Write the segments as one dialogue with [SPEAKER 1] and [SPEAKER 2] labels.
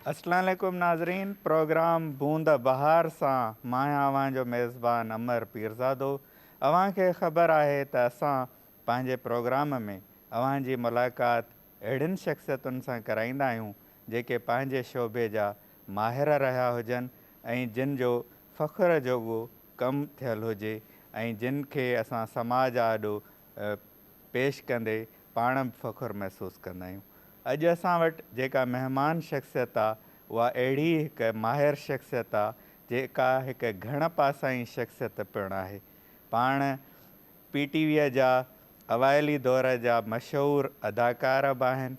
[SPEAKER 1] اسلام عليڪم ناظرين پروگرام بوند بهار سان مان اوهان جو ميزبان امر پيرزادو اوهان کي خبر آهي ته اسان پنهنجي پروگرام ۾ اوهان جي ملاقات اهڙين شخصيتن سان ڪرائيندا آهيون جيڪي پنهنجي شعبي جا ماهر رهيا هجن ۽ جن جو فخر جوڳو ڪم ٿيل هجي ۽ جن کي اسان سماج آڏو پيش ڪندي پاڻ به فخر محسوس ڪندا آهيون. اڄ اسان وٽ جيڪا مهمان شخصيت آ اها اهڙي هڪ ماهر شخصيت آ جيڪا هڪ گهڻ پاسائين شخصيت پڻ آهي. پاڻ پي ٽي ويء جا اوائلي دور جا مشهور اداڪار به آهن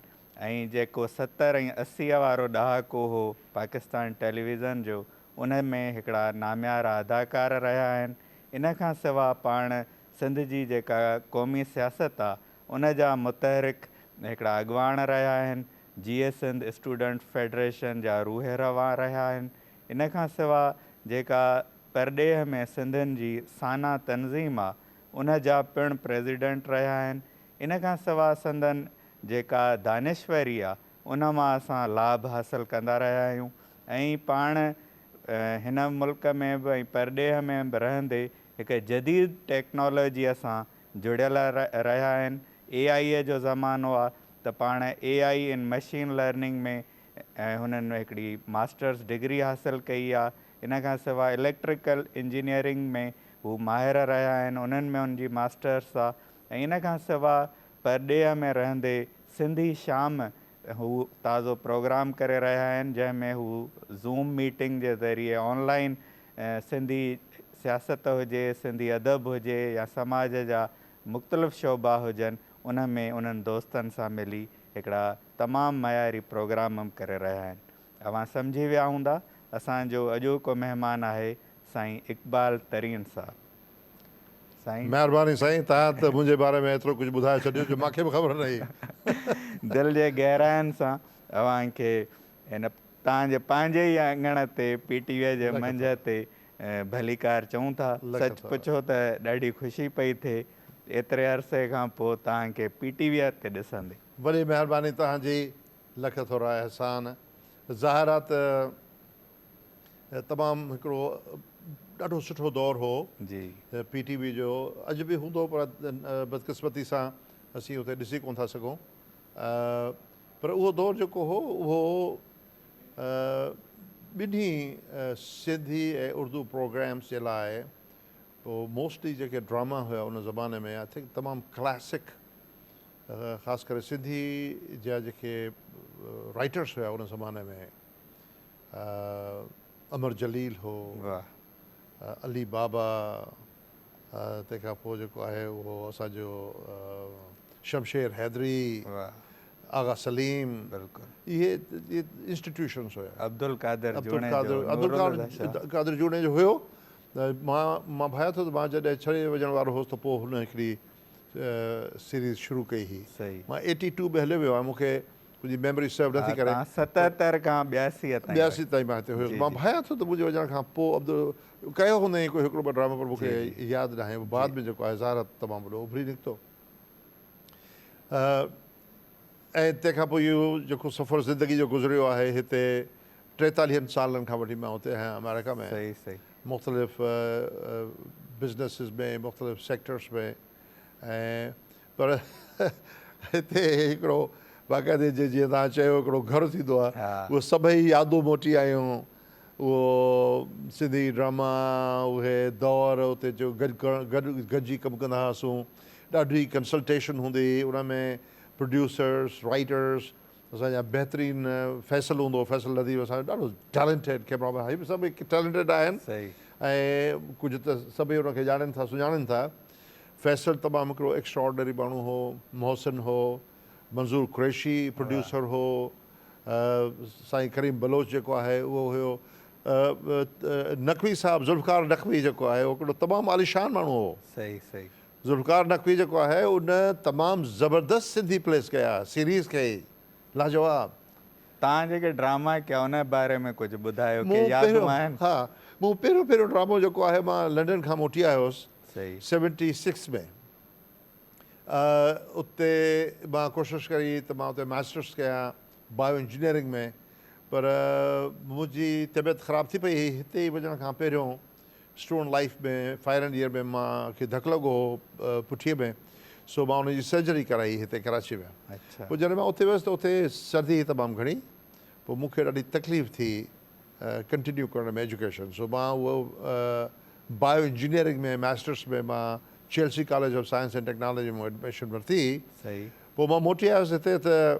[SPEAKER 1] ۽ جيڪو ستر ۽ اسيء وارو ڏهاڪو هو پاڪستان ٽيليويزن جو ان ۾ هڪڙا ناميارا اداڪار رهيا آهن. ان کان سوا پاڻ سنڌ جي جيڪا قومي سياست آ ان جا متحرڪ هڪڙا اڳواڻ رهيا آهن جيئي سنڌ اسٽوڊنٽ فيڊريشن جا روح روان رهيا آهن ان کان سوا جيڪا پرڏيهه ۾ سنڌين جي سانا تنظيم آ ان جا پڻ پريزيڊنٽ رهيا آهن ان کان سوا سندن جيڪا دانشوري آ ان مان اسان لاڀ حاصل ڪندا رهيا آهيون ۽ پاڻ هن ملڪ ۾ به ۽ پرڏيهه ۾ به رهندي هڪ جديد ٽيڪنالاجيء سان جڙيل رهيا آهن. اي آء جو زمانو آ ته پاڻ اي آء ان مشين لرننگ ۾ هنن هڪڙي ماسٽرس ڊگري حاصل ڪئي آ. ان کان سواء اليڪٽريڪل انجنيئرنگ ۾ هو ماهر رهيا آهن، انهن ۾ هن جي ماسٽرس آ ۽ ان کان سواء پرڏيهه ۾ رهندي سنڌي شام هو تازو پروگرام ڪري رهيا آهن جنهن ۾ هو زوم ميٽنگ جي ذريعي آن لائين سنڌي سياست هجي، سنڌي ادب هجي يا سماج جا مختلف شعبا هجن ان ۾ انهن دوستن سان ملي هڪڙا تمام معياري پروگرام ڪري رهيا آهن. اوهان سمجهي ويا هوندا اسان جو اڄوڪو مهمان آهي سائين اقبال ترين صاحب. سائين. مهرباني سائين
[SPEAKER 2] تهان ته منهنجي باري ۾ ايترو ڪجهه ٻڌائي ڇڏيو جو مان کي به خبر نه هئي. دل
[SPEAKER 1] جي گهراين سان اوهان کي هن تهان جي پنهنجي ئي اڱڻ تي پي ٽي وي جي منجهه تي ڀليڪار چئون ٿا. سچ پڇو ته ڏاڍي خوشي پئي ٿئي ايتري عرصي کان پوء تهان کي پي ٽي وي تي ڏسندي. وڏي مهرباني
[SPEAKER 2] تهان جي. لک ٿورا احسان. ظاهر آ ته تمام هڪڙو ڏاڍو سٺو دور هو پي
[SPEAKER 1] ٽي وي جو
[SPEAKER 2] اڄ به هوندو پر بدقسمتي سان اسين اتي ڏسي ڪون ٿا سگهون پر اهو دور جيڪو هو اهو ٻنهي سنڌي ۽ اردو پروگرامس جي لاء پوء موسٽلي جيڪي ڊراما هيا ان زماني ۾ آئي ٿنڪ تمام ڪلاسڪ خاص ڪري سنڌي جا جيڪي رائٽرس هيا ان زماني ۾ امر جليل هو علي بابا تنهن کان پوء جيڪو آهي اهو اسان جو شمشير حيدري آغا سليم اهي انسٽيٽيوشنس هيا عبدالقادر
[SPEAKER 1] عبدالقادر
[SPEAKER 2] جوڻيجو هيو مان ڀايا ٿو ته مان جڏهن ڇهين وجهڻ وارو هوس ته پوء هن هڪڙي سيريز شروع ڪئي هئي مان ايٽي ٽو ۾ هليو ويو آهيان مون کي منهنجي ميموري سرو نٿي ڪري تان ستهتر کان
[SPEAKER 1] ٻياسي تائين ٻياسي تائين مان هتي هيس مان
[SPEAKER 2] ڀانيان ٿو ته منهنجي وڃڻ کان پوء عبدل ڪيو هوندئين ڪو هڪڙو ٻه ڊرامو پر مون کي ياد ناهي هو بعد ۾ جيڪو آهي ظاهر ته تمام وڏو اڀري نڪتو ۽ تنهن کان پوء اهو جيڪو سفر زندگي جو گذريو آهي هتي ٽيتاليهن سالن کان وٺي مان هتي آهيان آمريڪا ۾ مختلف بزنيسز ۾ مختلف سيڪٽرس ۾ ۽ پر هتي هڪڙو باقاعدي جي جيئن توهان چيو هڪڙو گهر ٿيندو آهي اهي سڀئي يادون موٽي آيون اهو سنڌي ڊراما اهي دور اتي جو گڏ گڏ گڏجي ڪم ڪندا هئاسون ڏاڍي ڪنسلٽيشن هوندي هئي ان ۾ پروڊيوسرس رائيٽرس اسان جا بهترين فيصل هوندو فيصل لطيف اسان جو ڏاڍو ٽيلنٽيڊ ڪيمرا مين هي به سڀ ٽيلنٽيڊ آهن ۽ ڪجهه ته سڀئي ان کي ڄاڻن ٿا سڃاڻن ٿا فيصل تمام هڪڙو ايڪسٽراآرڊنري ماڻهو هو محسن هو منظور قريشي پروڊيوسر هو سائين ڪريم بلوچ جيڪو آهي اهو هيو نقوي صاحب ذوالفقار نقوي جيڪو آهي اهو هڪڙو تمام عاليشان ماڻهو هو ذوالفقار نقوي جيڪو آهي ان تمام زبردست سنڌي پليس ڪيا سيريز ڪئي لاجواب. تان
[SPEAKER 1] جيڪي ڊراما ڪيا ان جي باري ۾ ڪجهه ٻڌايو ڪي يادون آهن. ها
[SPEAKER 2] مون پهريون پهريون ڊرامو جيڪو آهي مان لنڊن کان موٽي آيو هوس سيونٽي سڪس ۾ اتي مان ڪوشش ڪري ته مان اتي ماسٽرس ڪيا بايو انجنيئرنگ ۾ پر منهنجي طبيعت خراب ٿي پئي هئي هتي وڃڻ کان پهريون student life ۾ final year ۾ مان کي ڌڪ لڳو هو پٺيء ۾ سو مان ان جي سرجري ڪرائي هتي ڪراچي ۾ پوء جڏهن مان اتي
[SPEAKER 1] ويس ته اتي
[SPEAKER 2] سردي هئي تمام گهڻي پوء مون کي ڏاڍي تڪليف ٿي ڪنٽينيو ڪرڻ ۾ ايجوڪيشن سو مان اهو بايو انجنيئرنگ ۾ ماسٽرس ۾ مان Chelsea college of science and technology ۾ admission ورتي پوء
[SPEAKER 1] مان موٽي
[SPEAKER 2] آيس هتي ته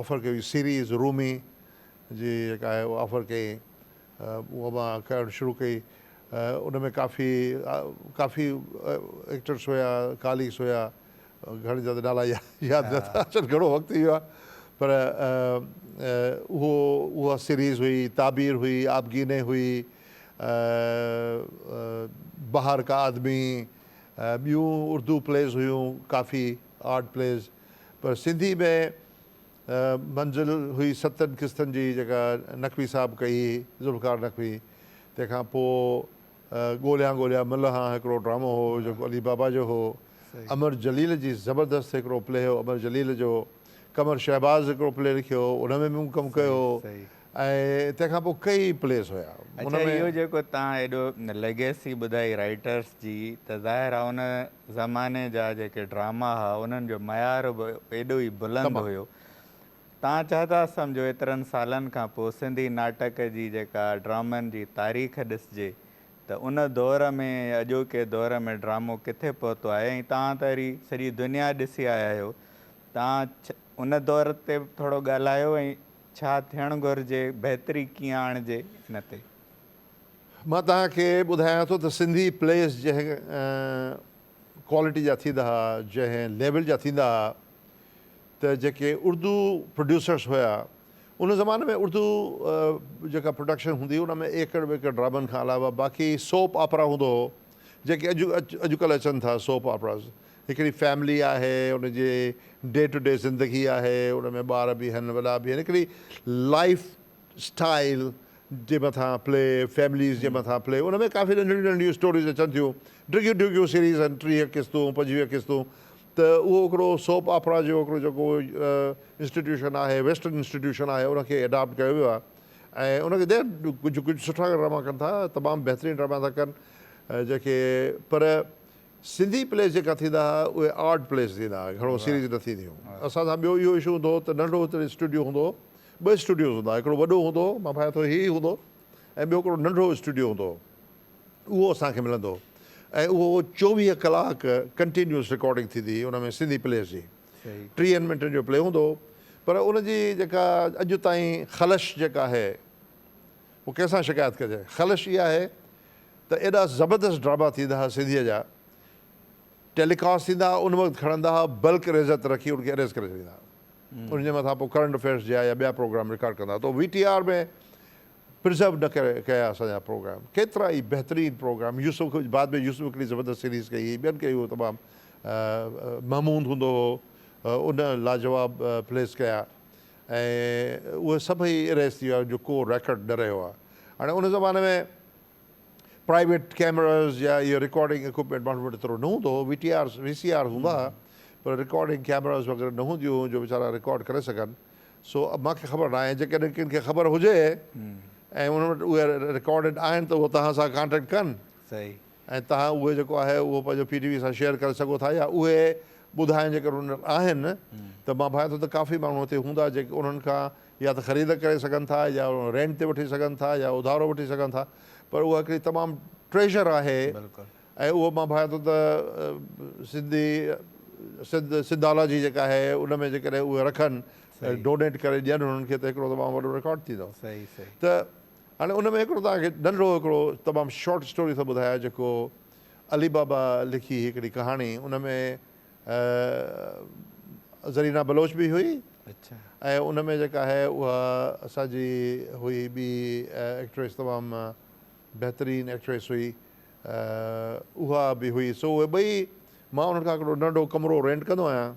[SPEAKER 2] آفر ڪئي هئي سيريز رومي جي جيڪا آهي اها آفر ڪئي اها مان ڪرڻ شروع ڪئي ان ۾ ڪافي ڪافي ايڪٽرس هيا ڪاليگس هيا گهڻن جا ته نالا ياد نٿا اچن گهڻو وقت ٿي ويو آهي پر اهو اها سيريز هئي تعبير هئي آبگيني هئي بهار ڪا آدمي ٻيون اردو پليز هيون ڪافي آرٽ پليز پر سنڌي ۾ منزل هئي ستن قسطن جي جيڪا نقوي صاحب ڪئي هئي ذوالفقار نقوي تنهن کان پوء ڳوليان ڳوليان ملهان هڪڙو ڊرامو هو جيڪو علي بابا جو هو امر جليل جي زبردست هڪڙو پلي هو امر جليل جو قمر شهباز هڪڙو پلي لکيو هو ان ۾ به مون ڪم ڪيو هو ۽ تنهن کان پوء ڪيئي پليز هيا. اڇا اهو جيڪو
[SPEAKER 1] تان ايڏو ليگيسي ٻڌائي رائيٽرس جي ته ظاهر آ ان زماني جا جيڪي ڊراما ها انهن جو معيار به ايڏو ئي بلند هيو تان ڇا ٿا سمجهو ايترن سالن کان پوء سنڌي ناٽڪ جي جيڪا ڊرامن جي تاريخ ڏسجي ته ان دور ۾ ۽ اڄوڪي دور ۾ ڊرامو ڪٿي پهتو آهي ۽ تان ته وري سڄي دنيا ڏسي آيا آهيو تان ان دور تي به ٿورو ڳالهايو ۽ ڇا ٿيڻ گهرجي بهتري ڪيئن آڻجي ان تي.
[SPEAKER 2] مان توهان کي ٻڌايان ٿو ته سنڌي پليز جنهن ڪوالٽي جا ٿيندا ها جنهن ليول جا ٿيندا ها ته جيڪي اردو پروڊيوسرس هيا ان زماني ۾ اردو جيڪا پروڊڪشن هوندي هئي ان ۾ ايڪڙ ٻيڪڙ ڊرامن کان علاوه باقي سوپ آپرا هوندو هو جيڪي اڄ اڄڪلهه اچن ٿا سوپ آپراز هڪڙي فيملي آهي ان جي ڊي ٽو ڊي زندگي آهي ان ۾ ٻار به آهن وڏا به آهن هڪڙي لائيف اسٽائيل جي مٿان پلي فيمليز جي مٿان پلي ان ۾ ڪافي ننڍڙيون ننڍڙيون اسٽوريز اچن ٿيون ڊگهيون ڊگهيون سيريز آهن ٽيهه قسطون پنجويهه قسطون ته اهو هڪڙو سوپ آپرا جو هڪڙو جيڪو انسٽيٽيوشن آهي ويسٽرن انسٽيٽيوشن آهي ان کي اڊاپٽ ڪيو ويو آهي ۽ ان کي ڪجهه ڪجهه سٺا ڊراما ڪن ٿا تمام بهترين ڊراما ٿا ڪن جيڪي پر سنڌي پليز جيڪا ٿيندا ھئا اھي آرٽ پليز ٿيندا ھئا گھڻو سيريز نه ٿينديون ھيون اسان سان ٻيو اھو اشو ھوندو ھو ته ننڍو ھتڙي اسٽوڊيو ھوندو ھو ٻه اسٽوڊيوز ھوندا ھئا ھڪڙو وڏو ھوندو ھو مان ڀانيان ٿو ھي ھي ھوندو ۽ ٻيو ھڪڙو ننڍو اسٽوڊيو ھوندو ھو اھو اسان کي ملندو ھو ۽ اھو چوويھ ڪلاڪ ڪنٽينيوس رڪارڊنگ ٿيندي ھئي ان ۾ سنڌي پليز جي ٽيھن منٽن جو پلي ھوندو ھو پر ان جي جيڪا اڄ تائين خلش جيڪا آھي ھو ڪنھن سان شڪايت ڪجي خلش اھا آھي ته ايڏا زبردست ڊراما ٿيندا ها سنڌيء جا ٽيلي ڪاسٽ ٿيندا ها ان وقت کڻندا ها بلڪ ريزر تي رکي ان کي اريز ڪري ڇڏيندا ها ان جي مٿان پوء ڪرنٽ افيئرس جا يا ٻيا پروگرام رڪارڊ ڪندا ها تو وي ٽي آر ۾ پرزرو نه ڪري ڪيا اسان جا پروگرام ڪيترا ئي بهترين پروگرام يوسف کي بعد ۾ يوسف هڪڙي زبردست سيريز ڪئي هئي ٻين ڪئي هو تمام محمود هوندو هو ان لاجواب پليز ڪيا ۽ اهي سڀئي اريز ٿي ويا جو ڪو ريڪارڊ نه رهيو آهي هاڻي ان زماني ۾ پرائيويٽ ڪيمراز يا اهي رڪارڊنگ اڪوپمينٽ ماڻهن وٽ ايترو نه هوندو هو V T R V C R هوندا هئا پر رڪارڊنگ ڪيمراز وغيره نه هونديون هيون جو ويچارا رڪارڊ ڪري سگهن سو مان کي خبر ناهي جيڪڏهن ڪن کي خبر هجي ۽ انهن وٽ اهي رڪارڊڊ آهن ته اهو توهان سان ڪانٽيڪٽ ڪن صحيح ۽
[SPEAKER 1] توهان اهو
[SPEAKER 2] جيڪو آهي اهو پنهنجو پي ٽي وي سان شيئر ڪري سگهو ٿا يا اهي ٻڌايان جيڪر ان وٽ آهن ته مان ڀانيان ٿو ته ڪافي ماڻهو هتي هوندا جيڪي انهن کان يا ته خريد ڪري سگهن ٿا يا رينٽ تي وٺي سگهن ٿا يا اڌارو وٺي سگهن ٿا پر اها هڪڙي تمام ٽريشر آهي ۽ اهو مان ڀانيان ٿو ته سنڌي سنڌ سنڌالاجي جيڪا آهي ان ۾ جيڪڏهن اهي رکن ڊونيٽ ڪري ڏين انهن کي ته هڪڙو تمام وڏو رڪارڊ ٿيندو ته هاڻي ان ۾ هڪڙو توهان کي ننڍڙو هڪڙو تمام شارٽ اسٽوري ٿو ٻڌايان جيڪو علي بابا لکي هڪڙي ڪهاڻي ان ۾ زرينا بلوچ به هئي اچھا ۽ ان ۾ جيڪا آهي اها اسان جي هئي ٻي ايڪٽريس تمام بهترين ايڪٽريس هئي اها به هئي سو اهي ٻئي مان انهن کان هڪڙو ننڍڙو ڪمرو رينٽ ڪندو آهيان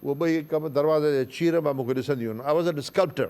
[SPEAKER 2] اهي ٻئي ڪم دروازي جي چير مان مون کي ڏسنديون آهن آئي واز اين اسڪلپٽر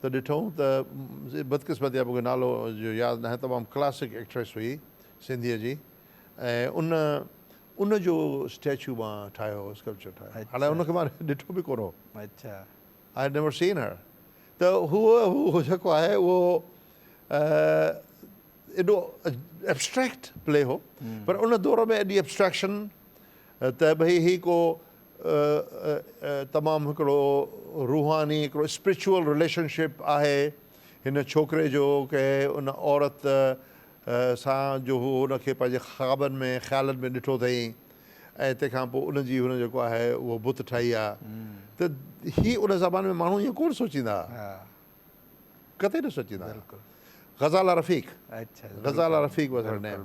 [SPEAKER 2] ته ڏٺئون ته بدقسمتي مونکي نالو جو ياد ناهي تمام ڪلاسڪ ايڪٽريس هئي سنڌيء جي ۽ ان ان جو اسٽيچو مان ٺاهيو هو اسڪلپچر ٺاهيو هو حالانڪه ان کي مان ڏٺو به ڪونه هو اچا آء هيڊ نيور سين هر ته هو هو جيڪو آهي اهو ايڏو ايبسٽريڪٽ پلي هو پر ان دور ۾ ايڏي ايبسٽريڪشن ته ڀئي هي ڪو تمام هڪڙو روحاني هڪڙو اسپريچوئل رليشن شپ آهي هن ڇوڪري جو ڪنهن ان عورت سان جو هو ان کي پنهنجي خوابن ۾ خيالن ۾ ڏٺو اٿئي ۽ تنهن کان پوء ان جي هن جيڪو آهي اهو بت ٺاهي آ ته هي ان زماني ۾ ماڻهو ائين ڪونه سوچيندا ها قطعي نه سوچيندا ها Ghazala Rafiq Ghazala Rafiq was her name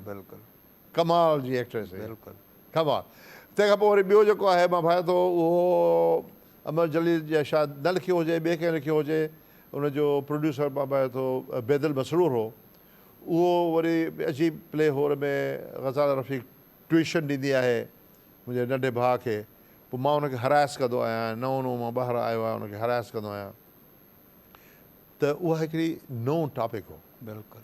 [SPEAKER 2] ڪمال جي ايڪٽريس هي بلڪل. ڪمال تنهن کان پوء وري ٻيو جيڪو آهي مان ڀانيان ٿو اهو امر جليل جا شايد نه لکيو هجي ٻئي ڪنهن لکيو هجي ان جو پروڊيوسر مان ڀانيان ٿو بيدل مسرور هو اهو وري عجيب پلي هو ان ۾ غزاله رفيق ٽوئيشن ڏيندي آهي منهنجي ننڍي ڀاء کي پوء مان ان کي هرائس ڪندو آهيان نئون نئون مان ٻاهر آيو آهيان ان کي هرائس ڪندو آهيان ته اها هڪڙي نئون ٽاپڪ هو بلڪل.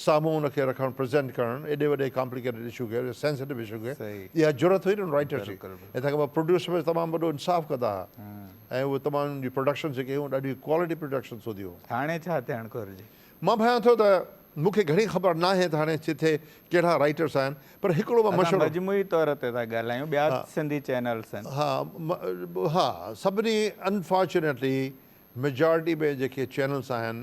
[SPEAKER 2] سامهون ان کي رکڻ پريزينٽ ڪرڻ ايڏي وڏي ڪامپليڪيٽيڊ اشو کي ايڏي سينسٽو اشو کي اها جرئت هئي نه ان رائيٽرس جي ۽ تنهن کان پوء پروڊيوسر به تمام وڏو انصاف ڪندا ها ۽ اهي تمام انهن جي پروڊڪشنس جيڪي هيون ڏاڍي ڪوالٽي پروڊڪشنس هونديون هيون. هاڻي ڇا ٿيڻ گهرجي؟
[SPEAKER 1] مان ڀانيان ٿو ته
[SPEAKER 2] مون کي گهڻي خبر ناهي ته هاڻي ڪٿي ڪهڙا رائيٽرس آهن پر هڪڙو مان مشورو. اسان مجموعي طور تي ٿا
[SPEAKER 1] ڳالهايون ٻيا سنڌي چينلس آهن. ها ها
[SPEAKER 2] سڀني انفارچونيٽلي ميجارٽي ۾ جيڪي چينلس آهن.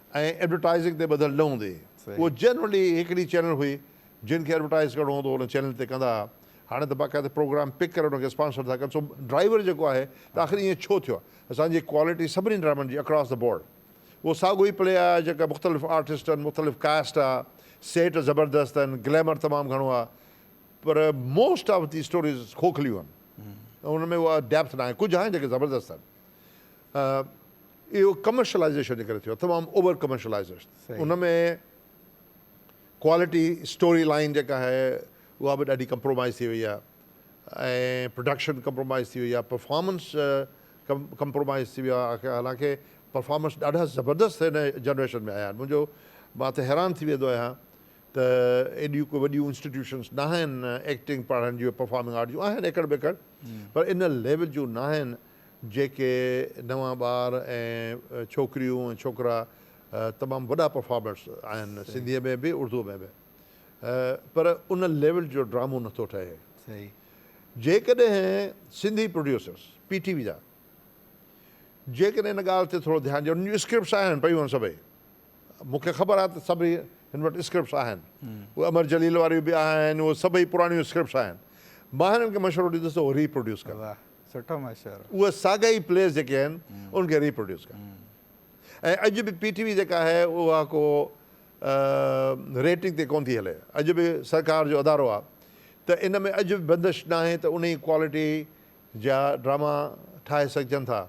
[SPEAKER 2] ۽ ايڊورٽائيزنگ تي ٻڌل نه هوندي اهو جنرلي هڪڙي چينل هئي جن کي ايڊورٽائيز ڪرڻو هوندو هو ان چينل تي ڪندا ها هاڻي ته باقاعده پروگرام پڪ ڪري ان کي اسپانسر ٿا ڪن سو ڊرائيور جيڪو آهي ته آخر ائين ڇو ٿيو آهي اسان جي ڪوالٽي سڀني ڊرامن جي اڪراس دي بورڊ اهو ساڳو ئي پلي آهي جيڪا مختلف آرٽسٽ آهن مختلف ڪاسٽ آهي سيٽ زبردست آهن گليمر تمام گهڻو آهي پر موسٽ آف دي اسٽوريز کوکليون آهن ان ۾ اها ڊيپٿ ناهي ڪجهه آهن جيڪي زبردست آهن اهو ڪمرشلائيزيشن جي ڪري ٿيو آهي تمام اوور ڪمرشلائيزيشن ان ۾ ڪوالٽي اسٽوري لائين جيڪا آهي اها به ڏاڍي ڪمپرومائيز ٿي وئي آهي ۽ پروڊڪشن ڪمپرومائيز ٿي وئي آهي پرفارمنس ڪمپرومائيز ٿي ويو آهي حالانڪه پرفارمنس ڏاڍا زبردست هن جنريشن ۾ آيا آهن منهنجو مان ته حيران ٿي ويندو آهيان ته ايڏيون ڪو وڏيون انسٽيٽيوشنس ناهن ايڪٽنگ پڙهڻ جون پرفارمنگ آرٽ جون آهن ايڪڙ ٻيڪڙ پر ان ليول جون ناهن جيڪي نوان ٻار ۽ ڇوڪريون ۽ ڇوڪرا تمام وڏا پرفارمرس آهن سنڌيء ۾ به اردوء ۾ به پر ان ليول جو ڊرامو نه ٿو ٺهي
[SPEAKER 1] جيڪڏهن
[SPEAKER 2] Sindhi producers P T V جا جيڪڏهن ان ڳالهه تي ٿورو ڌيان ڏين ان جون اسڪرپٽس آهن پيون سڀئي مون کي خبر آهي ته سڀئي هن وٽ اسڪرپٽس آهن اهي امر جليل واريون به آهن اهي سڀئي پراڻيون اسڪرپٽس آهن مان هنن کي مشورو ڏيندس ته اهو ري پروڊيوس ڪن سٺا
[SPEAKER 1] ماشاءالله. اهي ساڳا ئي پليئرز
[SPEAKER 2] جيڪي آهن انهن کي ريپروڊيوس ڪن ۽ اڄ به پي ٽي وي جيڪا آهي اها ڪو ريٽنگ تي ڪونه ٿي هلي اڄ به سرڪار جو ادارو آهي ته ان ۾ اڄ به بندش ناهي ته انهي ڪوالٽي جا ڊراما ٺاهي سگهجن ٿا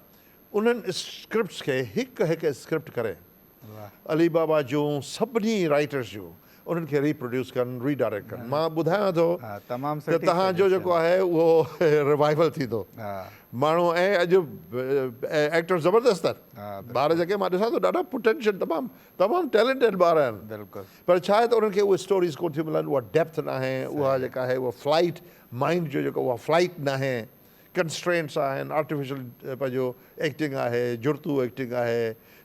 [SPEAKER 2] انهن اسڪرپٽس کي هڪ هڪ اسڪرپٽ ڪري علي
[SPEAKER 1] بابا جون
[SPEAKER 2] سڀني رائيٽرس جون انهن کي ري پروڊيوس ڪن ري ڊائريڪٽ ڪن مان ٻڌايان ٿو ته تهان
[SPEAKER 1] جو جيڪو آهي
[SPEAKER 2] اهو ريوائيول ٿيندو ماڻهو
[SPEAKER 1] ۽ اڄ
[SPEAKER 2] ايڪٽرس زبردست آهن ٻار جيڪي
[SPEAKER 1] مان ڏسان
[SPEAKER 2] ٿو ڏاڍا پوٽينشل تمام تمام ٽيلنٽيڊ ٻار آهن پر ڇا آهي
[SPEAKER 1] ته انهن کي
[SPEAKER 2] اهي اسٽوريز ڪونه ٿيون ملن اها ڊيپٿ ناهي اها جيڪا آهي اها فلائيٽ مائنڊ جو جيڪو اها فلائيٽ ناهي ڪنسٽرينٽس آهن آرٽيفيشل پنهنجو ايڪٽنگ آهي جڙتو ايڪٽنگ آهي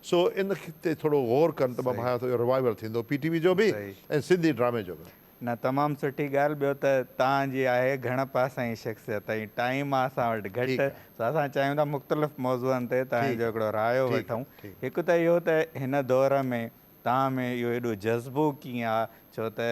[SPEAKER 2] سو ان تي ٿورو غور ڪن ته مان ڀانيان ٿو اهو ريوائيول ٿيندو پي ٽي وي جو به ۽ سنڌي ڊرامي جو به. نه تمام سٺي
[SPEAKER 1] ڳالهه ٻيو ته توهان جي آهي گهڻ پاسائين شخصيت ۽ ٽائيم آهي اسان وٽ گهٽ سو اسان چاهيون ٿا مختلف موضوعن تي توهان جو هڪڙو رايو وٺون هڪ ته اهو ته هن دور ۾ توهان ۾ اهو ايڏو جذبو ڪيئن آ؟ ڇو ته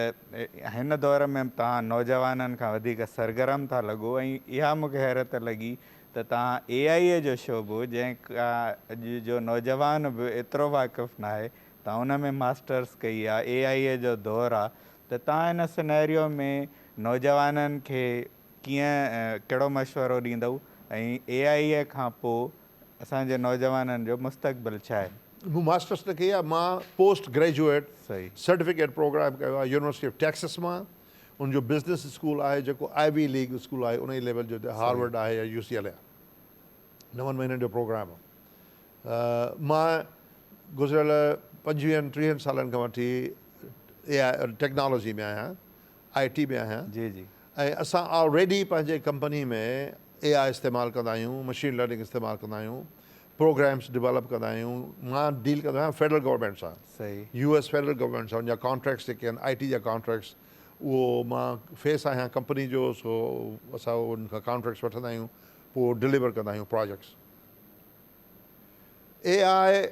[SPEAKER 1] هن دور ۾ توهان نوجوانن کان وڌيڪ سرگرم ٿا لڳو ۽ اها مون کي حيرت لڳي ته توهان اي آء اي جو شعبو جنهن کان اڄ جو نوجوان به ايترو واقف ناهي توهان ان ۾ ماسٽرس ڪئي آ اي آء اي جو دور آ ته توهان هن سنئريو ۾ نوجوانن کي ڪيئن ڪهڙو مشورو ڏيندؤ ۽ اي آء اي کان پوء اسان جي نوجوانن جو مستقبل ڇا آهي؟ مون ماسٽرس نه ڪئي آهي
[SPEAKER 2] مان پوسٽ گريجوئيٽ سرٽيفڪيٽ
[SPEAKER 1] پروگرام
[SPEAKER 2] ڪيو آهي يونيورسٽي آف ٽيڪسس مان ان جو بزنس اسڪول آهي جيڪو آئي وي ليگ اسڪول آهي انهي ليول جو هتي هارورڊ آهي يا يو سي ايل اي آهي نون مهينن جو پروگرام مان گذريل پنجويهن ٽيهن سالن کان وٺي اي آئي ٽيڪنالاجي ۾ آهيان آء ٽي ۾ آهيان جي جي ۽ اسان
[SPEAKER 1] آلريڊي
[SPEAKER 2] پنهنجي ڪمپني ۾ اي آء استعمال ڪندا آهيون مشين لرننگ استعمال ڪندا آهيون پروگرامس ڊولپ ڪندا آهيون مان ڊيل ڪندو آهيان فيڊرل گورنمينٽ سان صحيح يو ايس فيڊرل
[SPEAKER 1] گورنمينٽ سان
[SPEAKER 2] جا ڪانٽريڪٽس جيڪي آهن آء ٽي جا ڪانٽريڪٽس اهو مان فيس آهيان ڪمپني جو سو اسان ان کان ڪانٽريڪٽس وٺندا آهيون پوء ڊليور ڪندا آهيون پراجيڪٽس اي آء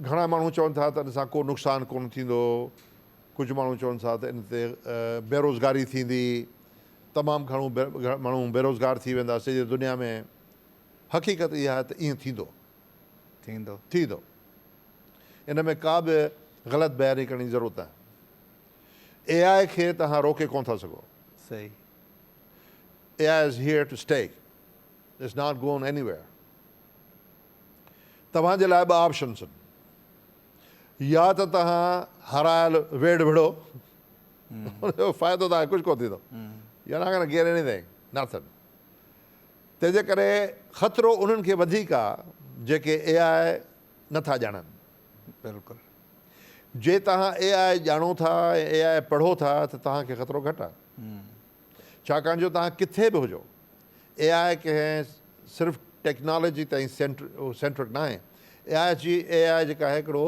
[SPEAKER 2] گهڻا ماڻهو چون ٿا ته ان سان ڪو نقصان ڪونه ٿيندو، ڪجهه ماڻهو چون ٿا ته ان تي بيروزگاري ٿيندي، تمام گهڻو ماڻهو بيروزگار ٿي ويندا سڄي دنيا ۾، حقيقت اها آهي ته ائين ٿيندو. ٿيندو.
[SPEAKER 1] ٿيندو.
[SPEAKER 2] ان ۾ ڪا به غلط بياني ڪرڻ جي ضرورت ناهي. اي آء کي توهان روڪي ڪونه ٿا سگهو. صحيح. A I is here to stay. It's not going anywhere توهان جي لاء ٻه آپشنس آهن يا ته توهان هارايل ويڙهه وڙهو ان جو فائدو توهان کي ڪجهه ڪونه ٿيندو You're not gonna get anything nothing تنهن جي ڪري خطرو انهن کي وڌيڪ آهي جيڪي اي آء نٿا ڄاڻن بلڪل جي توهان اي آء ڄاڻو ٿا ۽ اي آء پڙهو ٿا ته توهان کي خطرو گهٽ آهي ڇاڪاڻ جو توهان ڪٿي به هجو اي آء ڪنهن صرف ٽيڪنالاجي تائين سينٽرڪ ناهي اي آء جي اي آء جيڪا آهي هڪڙو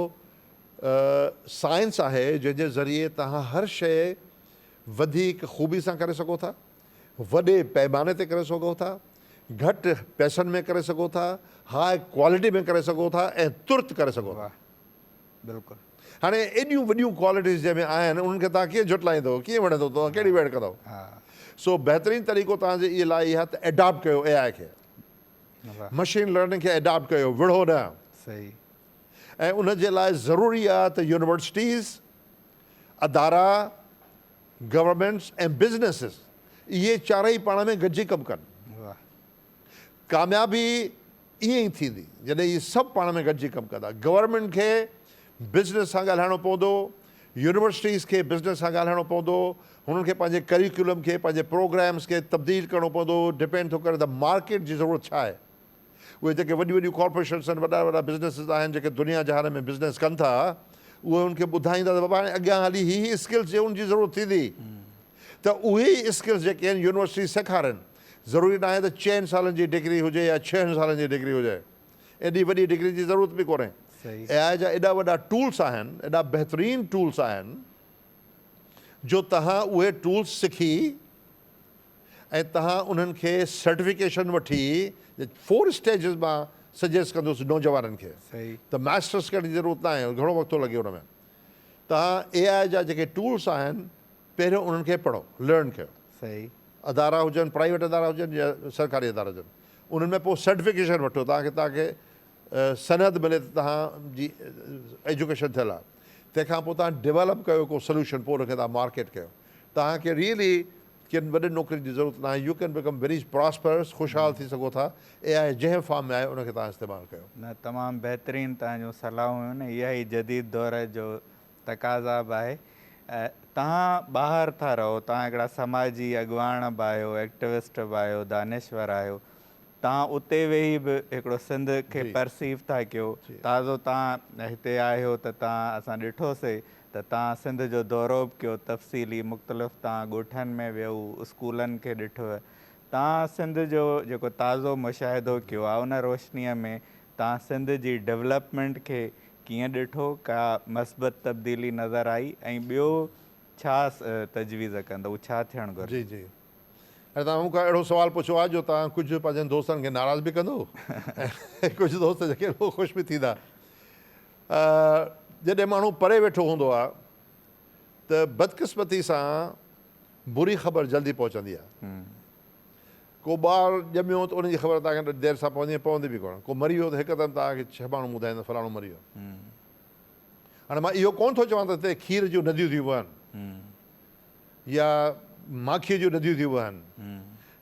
[SPEAKER 2] سائنس آهي جنهن جي ذريعي توهان هر شئي وڌيڪ خوبي سان ڪري سگهو ٿا وڏي پئماني تي ڪري سگهو ٿا گهٽ پئسن ۾ ڪري سگهو ٿا هاء ڪوالٽي ۾ ڪري سگهو ٿا ۽ ترت ڪري سگهو ٿا بلڪل
[SPEAKER 1] هاڻي
[SPEAKER 2] ايڏيون وڏيون ڪوالٽيز جنهن ۾ آهن انهن کي توهان ڪيئن جهٽلائيندو ڪيئن وڻي ٿو توهان ڪهڙي ويڙهه ڪندو سو بهترين طريقو توهان جي اي لاء اهي آهي ته ايڊاپٽ ڪيو اي آء کي مشين لرننگ کي ايڊاپٽ ڪيو وڙهو نه صحيح
[SPEAKER 1] ۽
[SPEAKER 2] ان جي لاء ضروري آهي ته يونيورسٽيز ادارا گورنمنٽس ۽ بزنسز اهي چارئي پاڻ ۾ گڏجي ڪم ڪن ڪاميابي ائين ئي ٿيندي جڏهن اهي سڀ پاڻ ۾ گڏجي ڪم ڪندا. گورنمينٽ کي بزنس سان ڳالهائڻو پوندو، يونيورسٽيز کي بزنس سان ڳالهائڻو پوندو، هنن کي پنهنجي ڪريڪولم کي، پنهنجي پروگرامز کي تبديل ڪرڻو پوندو، ڊپينڊ ٿو ڪري ته مارڪيٽ جي ضرورت ڇا آهي. اهي جيڪي وڏيون وڏيون ڪارپوريشنز آهن، وڏا وڏا بزنسز آهن جيڪي دنيا جهان ۾ بزنس ڪن ٿا، اهي ان کي ٻڌائيندا ته بابا هاڻي اڳيان هلي هي هي اسڪلز جي ان جي ضرورت ٿيندي ته اهي ئي اسڪلز جيڪي آهن يونيورسٽيز سيکارين. ضروري ناهي ته چئن سالن جي ڊگري هجي يا ڇهن سالن جي ڊگري هجي. ايڏي وڏي ڊگري جي ضرورت به ڪونهي. اي آء جا ايڏا وڏا ٽولس آهن، ايڏا بهترين ٽولس آهن جو توهان اهي ٽولس سکي ۽ توهان انهن کي سرٽيفڪيشن وٺي فور اسٽيجز مان سجيسٽ ڪندس نوجوانن کي ته ماسٽرس ڪرڻ جي ضرورت ناهي گهڻو وقت ٿو لڳي ان ۾ توهان اي آء جا جيڪي ٽولس آهن پهريون انهن کي پڙهو، Learn، ڪيو. صحيح. ادارا هجن، پرائيويٽ ادارا هجن يا سرڪاري ادارا هجن، انهن ۾ پوء سرٽيفڪيشن وٺو تان ڪه توهانکي سند ملي ته توهان جي ايجوڪيشن ٿيل آهي. تنهن کان پوء توهان ڊيولپ ڪيو ڪو سلوشن پوء ان کي توهان مارڪيٽ ڪيو. توهان کي ريئلي ڪن وڏين نوڪرين جي ضرورت ناهي. You can become very prosperous, خوشحال ٿي سگهو ٿا. اي آء جنهن فارم ۾ آهي ان کي توهان استعمال ڪيو. نه تمام بهترين
[SPEAKER 1] توهان جون صلاحون هيون نه اها ئي جديد دور جو تقاضا به آهي توهان ٻاهر ٿا رهو توهان هڪڙا سماجي اڳواڻ به آهيو ايڪٽوسٽ به آهيو دانشور آهيو توهان اتي ويهي به هڪڙو سنڌ کي پرسيو ٿا ڪيو تازو توهان هتي آهيو ته توهان اسان ڏٺو سي ته توهان سنڌ جو دورو به ڪيو تفصيلي مختلف توهان ڳوٺن ۾ ويو اسڪولن کي ڏٺو توهان سنڌ جو جيڪو تازو مشاهدو ڪيو آهي ان روشنيء ۾ توهان سنڌ جي ڊولپمينٽ کي ڪيئن ڏٺو، ڪا مثبت تبديلي نظر آئي ۽ ٻيو ڇا تجويز ڪندؤ، ڇا ٿيڻ گهرجي؟ جي جي
[SPEAKER 2] ۽ توهان مون کان اهڙو سوال پڇيو آهي جو توهان ڪجهه پنهنجن دوستن کي ناراض به ڪندؤ ۽ ڪجهه دوست جيڪي هو خوش به ٿيندا جڏهن ماڻهو پري ويٺو هوندو آهي ته بدقسمتي سان بري خبر جلدي پهچندي آهي. ڪو ٻار ڄميو ته ان جي خبر توهان کي دير سان پوندي ۽ پوندي به ڪونه. ڪو مري ويو ته هڪدم توهان کي ڇهه ماڻهو ٻڌائيندا فلاڻو مري ويو. هاڻي مان اهو ڪونه ٿو چوان ته هتي کير جون نديون ٿيون وهن يا ماکيء جون نديون ٿيون وهن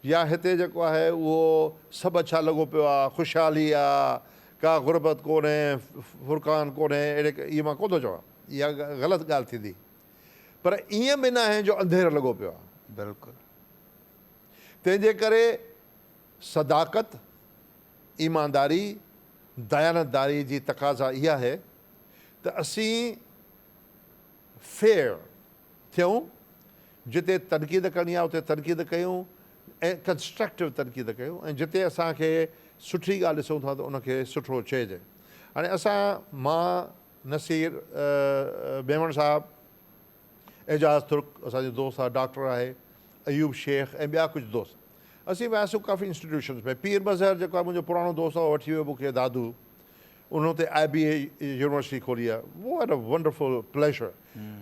[SPEAKER 2] يا هتي جيڪو آهي اهو سڀ اڇا لڳو پيو آهي، خوشحالي آهي، ڪا غربت ڪونهي، فرقان ڪونهي، اهڙي اهو مان ڪونه ٿو چوان. اها غلط ڳالهه ٿيندي پر ائين به ناهي جو انڌير لڳو پيو آهي. بلڪل. تنهن جي ڪري صداقت، ايمانداري، ديانتداري جي تقاضا اها آهي ته اسين Fair ٿيون، جتي تنقيد ڪرڻي آهي اتي تنقيد ڪيون ۽ Constructive تنقيد ڪيون ۽ جتي اسان کي سٺي ڳالهه ڏسون ٿا ته ان کي سٺو چئجي. هاڻي اسان مان نصير ميمڻ صاحب، اعجاز ترڪ، اسان جو دوست آهي، ڊاڪٽر آهي، ايوب شيخ ۽ ٻيا ڪجهه دوست. اسين وياسون ڪافي انسٽيٽيوشنز ۾. پير مظهر جيڪو آهي منهنجو پراڻو دوست آهي، اهو وٺي ويو مون کي دادو. ان اتي آء بي اي يونيورسٽي کولي آهي. What a wonderful pleasure.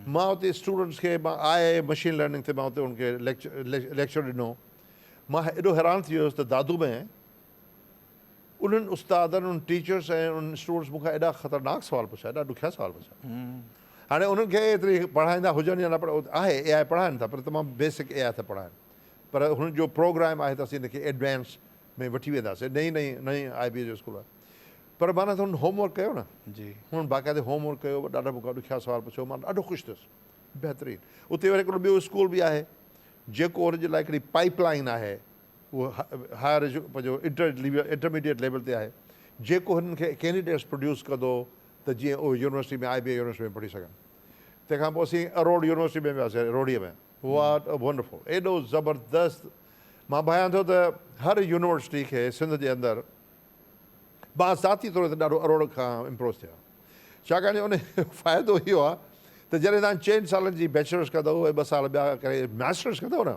[SPEAKER 2] مان اتي اسٽوڊنٽس کي مان آء اي مشين لرننگ تي مان اتي ان کي ليڪچر ڏنو. مان ايڏو حيران ٿي ويس ته دادو ۾ انهن استادن، انهن ٽيچرس ۽ انهن اسٽوڊنٽس مون کان ايڏا خطرناڪ سوال پڇيا، ايڏا ڏکيا سوال پڇيا. هاڻي انهن کي ايتري پڙهائيندا هجن يا نه پر آهي اي آء پڙهائن ٿا پر تمام بيسڪ اي آء ٿا پڙهائن. پر هن جو پروگرام آهي ته اسين ان کي ايڊوانس ۾ وٺي وينداسين. نئين نئين نئين آء بي جو اسڪول آهي. پر مان نه ته هن هوم ورڪ ڪيو نه. هن باقاعدي هوم ورڪ ڪيو، ڏاڍا مون کان ڏکيا سوال پڇيو، مان ڏاڍو خوش ٿيس. بهترين. اتي وري هڪڙو ٻيو اسڪول به آهي جيڪو ان جي لاء هڪڙي پائيپ لائين آهي اهو هائر ايجو پنهنجو انٽر ليول انٽرميڊيٽ ليول تي آهي جيڪو هنن کي ڪينڊيڊيٽس پروڊيوس ڪندو ته جيئن اهي university ۾ I B A university ۾ پڙهي سگهن تنهن کان پوء اسين اروڙ يونيورسٽي ۾ وياسين روهڙي ۾ واٽ ا ونڊرفل ايڏو زبردست مان ڀانيان ٿو ته هر يونيورسٽي کي سنڌ جي اندر مان ذاتي طور تي ڏاڍو اروڙ کان امپروس ٿيو ڇاڪاڻ جو ان فائدو اهو آهي ته جڏهن تان چئن سالن جي بيچلرس ڪندو ٻه سال ٻيا ڪري ماسٽرس ڪندو نه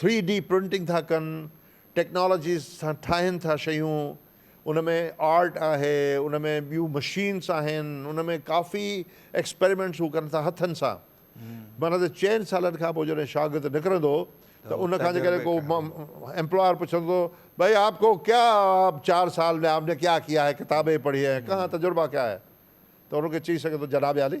[SPEAKER 2] ٿري ڊي پرنٽنگ ٿا ڪن، ٽيڪنالاجيز سان ٺاهين ٿا شيون، ان ۾ آرٽ آهي، ان ۾ ٻيون مشينس آهن، ان ۾ ڪافي ايڪسپريمينٽس هو ڪن ٿا هٿن سان. معنيٰ ته چئن سالن کان پوء جڏهن شاگرد نڪرندو ته ان کان جيڪڏهن ڪو ايمپلاير پڇندو ڀائي آپ ڪو ڪيا چار سال ۾ آپ ني ڪيا ڪيا هي ڪتابين پڙهي هي ڪها تجربا ڪيا هي ته ان کي چئي سگهندو جناب عالي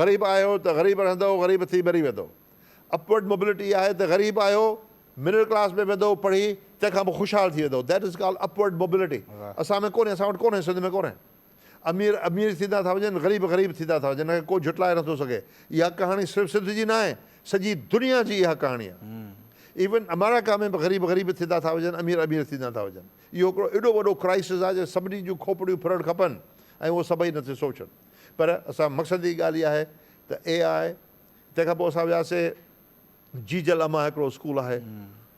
[SPEAKER 2] غريب آهيو ته غريب رهندؤ غريب ٿي مري ويندؤ اپورڊ موبلٽي آهي ته غريب آهيو مڊل ڪلاس ۾ ويندؤ پڙهي تنهن کان پوء خوشحال ٿي ويندؤ that is called upward mobility اسان ۾ ڪونهي اسان وٽ ڪونهي سنڌ ۾ ڪونهي امير امير ٿيندا ٿا وڃن غريب غريب ٿيندا ٿا وڃن ڪو جھٽلائي نه ٿو سگهي اها ڪهاڻي صرف سنڌ جي ناهي سڄي دنيا جي اها ڪهاڻي آهي ايون امريڪا ۾ به غريب غريب ٿيندا ٿا وڃن امير امير ٿيندا ٿا وڃن اهو هڪڙو ايڏو وڏو ڪرائسز آهي جو سڀني جون کوپڙيون ڦرڻ کپن ۽ اهو سڀئي ان تي سوچن پر اسان مقصد جي ڳالهه ئي آهي ته اي آء تنهن کان پوء اسان وياسي جيجل امان هڪڙو اسڪول آهي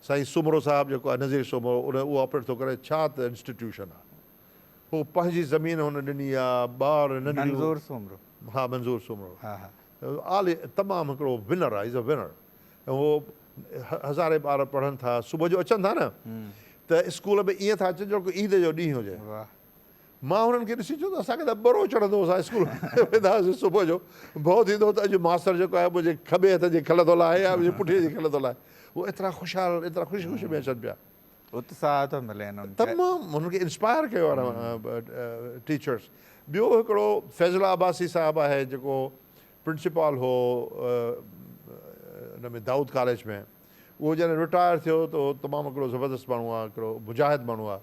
[SPEAKER 2] سائين سومرو صاحب جيڪو آهي نظير سومرو ان اهو آپريٽ ٿو ڪري ڇا ته انسٽيٽيوشن آهي هو پنهنجي زمين هن ڏني آ ٻار ننڍڙيون منظور سومرو
[SPEAKER 1] ها منظور سومرو
[SPEAKER 2] ها ها عالي تمام هڪڙو ونر آهي از ا ونر هو هزارين ٻار پڙهن ٿا صبح جو اچن ٿا نه ته اسڪول ۾ ائين ٿا اچن جهڙوڪ عيد جو ڏينهن هجي واهه. مان هنن کي ڏسي چيو ته اسان کي ته ٻرو چڙهندو هو، اسان اسڪول ويندا هئاسين صبح جو ڀؤ ٿيندو هو ته اڄ ماستر جيڪو آهي منهنجي کٻي هٿ جي کل ٿو لاهي يا منهنجي پٺيء جي کل ٿو لاهي. هو ايترا خوشحال ايترا خوشي خوشي ۾ اچن پيا. اتساهه ٿو
[SPEAKER 1] ملي هنن کي. تمام هنن کي
[SPEAKER 2] انسپائر ڪيو آهي ٽيچرس. ٻيو هڪڙو فيضلا عباسي صاحب آهي جيڪو پرنسپال هو ان ۾ دائود ڪاليج ۾ اهو جڏهن رٽائر ٿيو ته تمام هڪڙو زبردست ماڻهو آهي هڪڙو مجاهد ماڻهو آهي.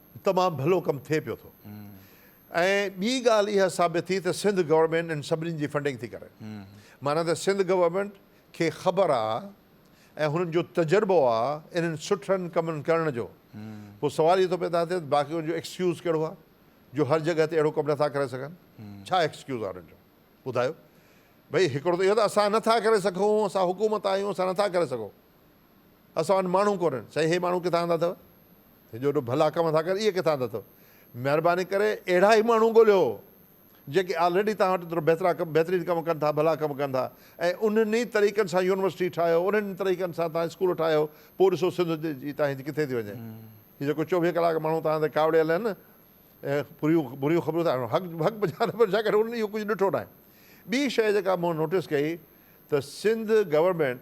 [SPEAKER 2] تمام ڀلو ڪم ٿئي پيو ٿو ۽ ٻي ڳالهه اها ثابت ٿي ته سنڌ گورنمينٽ ان سڀني جي فنڊنگ ٿي ڪري معنيٰ ته سنڌ گورنمينٽ کي خبر آ ۽ هنن جو تجربو آ انهن سٺن ڪمن ڪرڻ جو پوء سوال اهو ٿو پيدا ٿئي ته باقين جو ايڪسڪيوز ڪهڙو آ جو هر جڳهه تي اهڙو ڪم نٿا ڪري سگهن ڇا ايڪسڪيوز آ انهن جو ٻڌايو ڀئي هڪڙو ته اهو ته اسان نٿا ڪري سگهون اسان حڪومت آهيون اسان نٿا ڪري سگهون. اسان وٽ ماڻهو ڪونهن. سائين هي ماڻهو ڪٿان آندا اٿو؟ هي جو ايڏو ڀلا ڪم ٿا ڪن اهي ڪٿان آندا اٿو؟ مهرباني ڪري اهڙا ئي ماڻهو ڳوليو جيڪي آلريڊي توهان وٽ ايترو بهترا ڪم بهترين ڪم ڪن ٿا ڀلا ڪم ڪن ٿا ۽ انهن ئي طريقن سان يونيورسٽي ٺاهيو انهن ئي طريقن سان توهان اسڪول ٺاهيو پوء ڏسو سنڌ جي تاهيج ڪٿي ٿي وڃي هي جيڪو چوويهه ڪلاڪ ماڻهو توهان تي ڪاوڙيل آهن نه بريون بريون خبرون ٿا حق حق بجا نه بجا ڪري انهن اهو ڪجهه ڏٺو ناهي ٻي شيء جيڪا مون نوٽس ڪئي ته سنڌ گورنمينٽ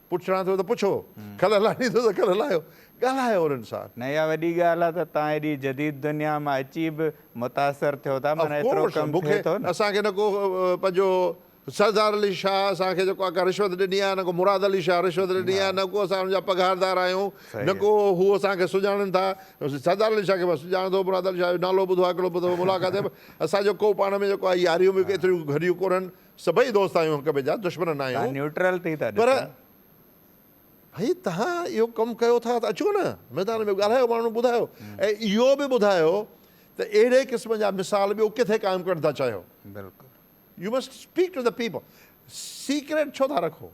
[SPEAKER 2] پڇڻا ٿو ته پڇو، کل هلائڻي ٿو ته کل هلايو، ڳالهايو انهن سان. نه اها وڏي ڳالهه
[SPEAKER 1] آهي ته توهان ايڏي جديد دنيا مان اچي به متاثر ٿيو ٿا، معنيٰ ايترو ڪم ٿئي ٿو نه. اسان کي نه ڪو
[SPEAKER 2] پنهنجو سردار علي شاهه اسان کي جيڪو آ رشوت ڏني آهي نه ڪو مراد علي شاهه رشوت ڏني آهي نه ڪو اسان ان جا پگهاردار آهيون نه ڪو هو اسان کي سڃاڻن ٿا سردار علي شاهه کي مان سڃاڻان ٿو مراد علي شاهه جو نالو ٻڌو آهي هڪڙو ٻه دفعا ملاقات ٿي اسان جو ڪو پاڻ ۾ جيڪو آ ياريون به ايتريون گهريون ڪونهن سڀئي دوست آهيون هڪ ٻئي جا دشمن نه آهيون. تهان نيوٽرل ٿي ٿا ڏسو. پر ڀئي تهان اهو ڪم ڪيو ٿا ته اچو نه ميدان ۾ ڳالهايو ماڻهن ٻڌايو ۽ اهو به ٻڌايو ته اهڙي قسم جا مثال ٻيو ڪٿي قائم ڪرڻ ٿا چاهيو. بلڪل.
[SPEAKER 1] You must
[SPEAKER 2] speak to the people secret ڇو ٿا رکو.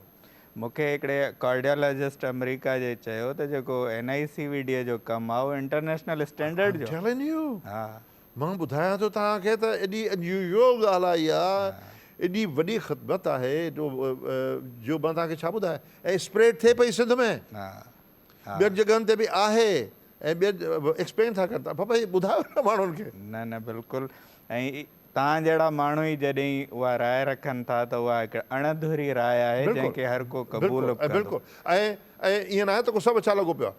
[SPEAKER 2] مون کي هڪڙي
[SPEAKER 1] ڪارڊيالاجسٽ آمريڪا جي چيو ته جيڪو N I C V D جو ڪم آهي اهو انٽرنيشنل اسٽينڊرڊ جو آهي. I'm telling you. ها.
[SPEAKER 2] مان ٻڌايان ٿو توهان کي ته ايڏي unusual ڳالهه آهي اها، ايڏي وڏي خدمت آهي جو مان توهان کي ڇا ٻڌايان ۽ اسپريڊ ٿئي پئي سنڌ ۾ ٻين جڳهن تي به آهي ۽ ٻين ايڪسپلين ٿا ڪرين ته ڀاء ٻڌايو نه ماڻهن کي. نه نه بلڪل
[SPEAKER 1] ۽ توهان جهڙا ماڻهو ئي جڏهن اها راء رکن ٿا ته اها هڪ اڻ اڌوري راء آهي جنهن کي هر ڪو قبول به ڪندو. بلڪل
[SPEAKER 2] ۽ ائين ناهي ته ڪو سڀ اڇا لڳو پيو آهي.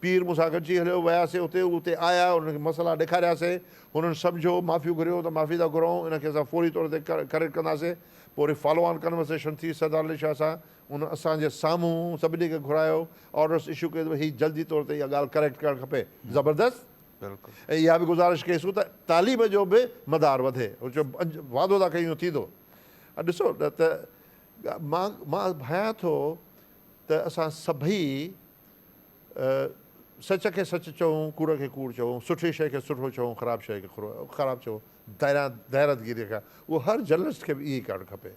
[SPEAKER 2] پير مون سان گڏجي هليو، وياسين اتي، هو اتي آيا، انهن کي مسئلا ڏيکارياسين، هنن سمجهيو، معافيون گهريون ته معافي ٿا گهرائون، ان کي اسان فوري طور تي ڪريڊٽ ڪنداسين، پوء وري فالو آن ڪنورسيشن ٿي، سردار علي شاهه سان، هن اسان جي سامهون سڀني کي گهرايو، آرڊرس اشو ڪيو ته هي جلدي طور تي اها ڳالهه ڪريڪٽ ڪرڻ کپي، زبردست، ۽ اها به گذارش ڪيسون ته تعليم جو به مدار وڌي، وعدو ٿا ڪيون ٿيندو، ڏسو ته مان مان ڀانيان ٿو ته اسان سڀئي. سچ کي سچ چئون، ڪوڙ کي ڪوڙ چئون، سٺي شيء کي سٺو چئون، خراب شيء کي خراب چئون، ديرادگيريء کان اهو هر جرنلسٽ کي به ائين ئي ڪرڻ کپي.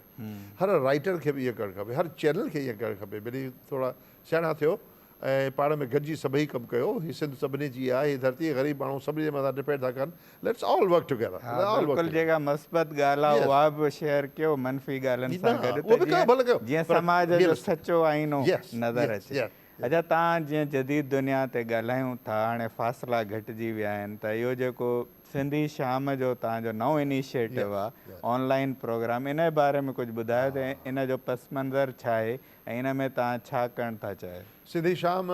[SPEAKER 2] هر رائيٽر کي به ائين ڪرڻ کپي. هر چينل کي ائين ڪرڻ کپي. ڀلي ٿورا سياڻا ٿيو ۽ پاڻ ۾ گڏجي سڀئي ڪم ڪيو. هي سنڌ سڀني جي آهي. هي ڌرتي غريب ماڻهو سڀني جي مٿان ڊپينڊ ٿا ڪن. Let's all work together. ها بلڪل جيڪا
[SPEAKER 1] مثبت ڳالهه آهي اها به شيئر ڪيو منفي ڳالهين سان گڏ ته جيئن جيئن سماج جو سچو آئينو نظر اچي. اچا تان جيئن جديد دنيا تي ڳالهايون ٿا هاڻي فاصلا گهٽجي ويا آهن ته اهو جيڪو سنڌي شام جو تان جو نئون انيشيٽو آهي آن لائين پروگرام ان جي باري ۾ ڪجهه ٻڌايو ته ان جو پس منظر ڇا آهي ۽ ان ۾ تان ڇا ڪرڻ ٿا چاهيو. سنڌي شام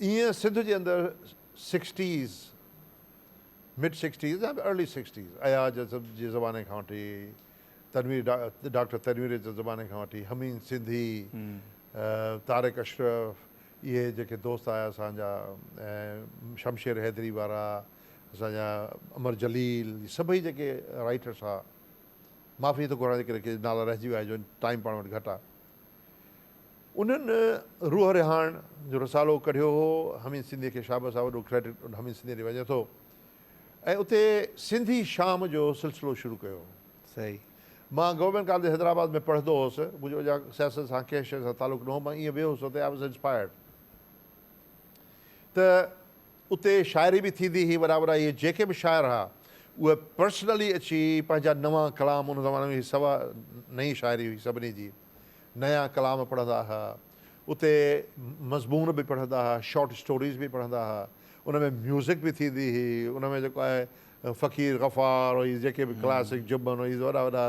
[SPEAKER 2] ايئن سنڌ جي اندر سڪسٽيز، مڊ سڪسٽيز يا ارلي سڪسٽيز، اياز جي زماني کان وٺي تنوير ڊاڪٽر تنوير جي زماني کان وٺي حميد سنڌي، طارق اشرف اهي جيڪي دوست آيا اسان جا ۽ شمشير حيدري وارا اسان جا امر جليل سڀئي جيڪي رائيٽرس ها معافي ٿو گهران جيڪڏهن ڪي نالا رهجي ويا هجن ٽائيم پاڻ وٽ گهٽ آ. انهن روح رهاڻ جو رسالو ڪڍيو هو حميد سنڌيء کي شابس آ وڏو ڪريڊٽ ان حميد سنڌيء ڏي وڃي ٿو ۽ اتي سنڌي شام جو سلسلو شروع ڪيو صحيح
[SPEAKER 1] مان گورنمينٽ
[SPEAKER 2] ڪاليج حيدرآباد ۾ پڙهندو هوس منهنجو اڃا سياست سان ڪنهن شيء سان تعلق نه هو مان ائين ويو هوس اتي آء واز انسپائرڊ ته اتي شاعري به ٿيندي هئي وڏا وڏا اهي جيڪي به شاعر ها اهي پرسنلي اچي پنهنجا نوان ڪلام ان زماني ۾ سوا نئين شاعري هئي سڀني جي نيا ڪلام پڙهندا ها اتي مضمون به پڙهندا ها شارٽ اسٽوريز به پڙهندا ها ان ۾ ميوزڪ به ٿيندي هئي ان ۾ جيڪو آهي فقير غفار هي جيڪي به ڪلاسڪ جبن هي وڏا وڏا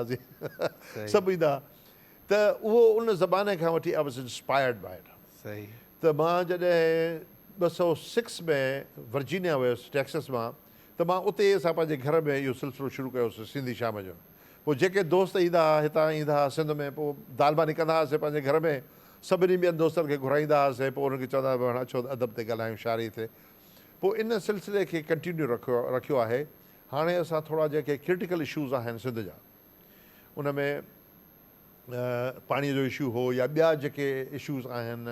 [SPEAKER 2] سڀ ايندا ته اهو ان زماني کان وٺي I was inspired by it صحيح. ته مان
[SPEAKER 1] جڏهن
[SPEAKER 2] ٻه سؤ سڪس ۾ ورجينيا ويس ٽيڪسس مان ته مان اتي ئي اسان پنهنجي گهر ۾ اهو سلسلو شروع ڪيو هوسين سنڌي شام جو پوء جيڪي دوست ايندا ها هتان ايندا ها سنڌ ۾ پوء دال ماني ڪندا هاسين پنهنجي گهر ۾ سڀني ٻين دوستن کي گهرائيندا هاسين پوء انهن کي چوندا هاسين ڀاڻ اچو ادب تي ڳالهايون شاعري تي پوء ان سلسلي کي ڪنٽينيو رکيو رکيو آهي هاڻي اسان ٿورا جيڪي ڪرٽيڪل اشوز آهن سنڌ جا ان ۾ پاڻي جو اشو هو يا ٻيا جيڪي اشوز آهن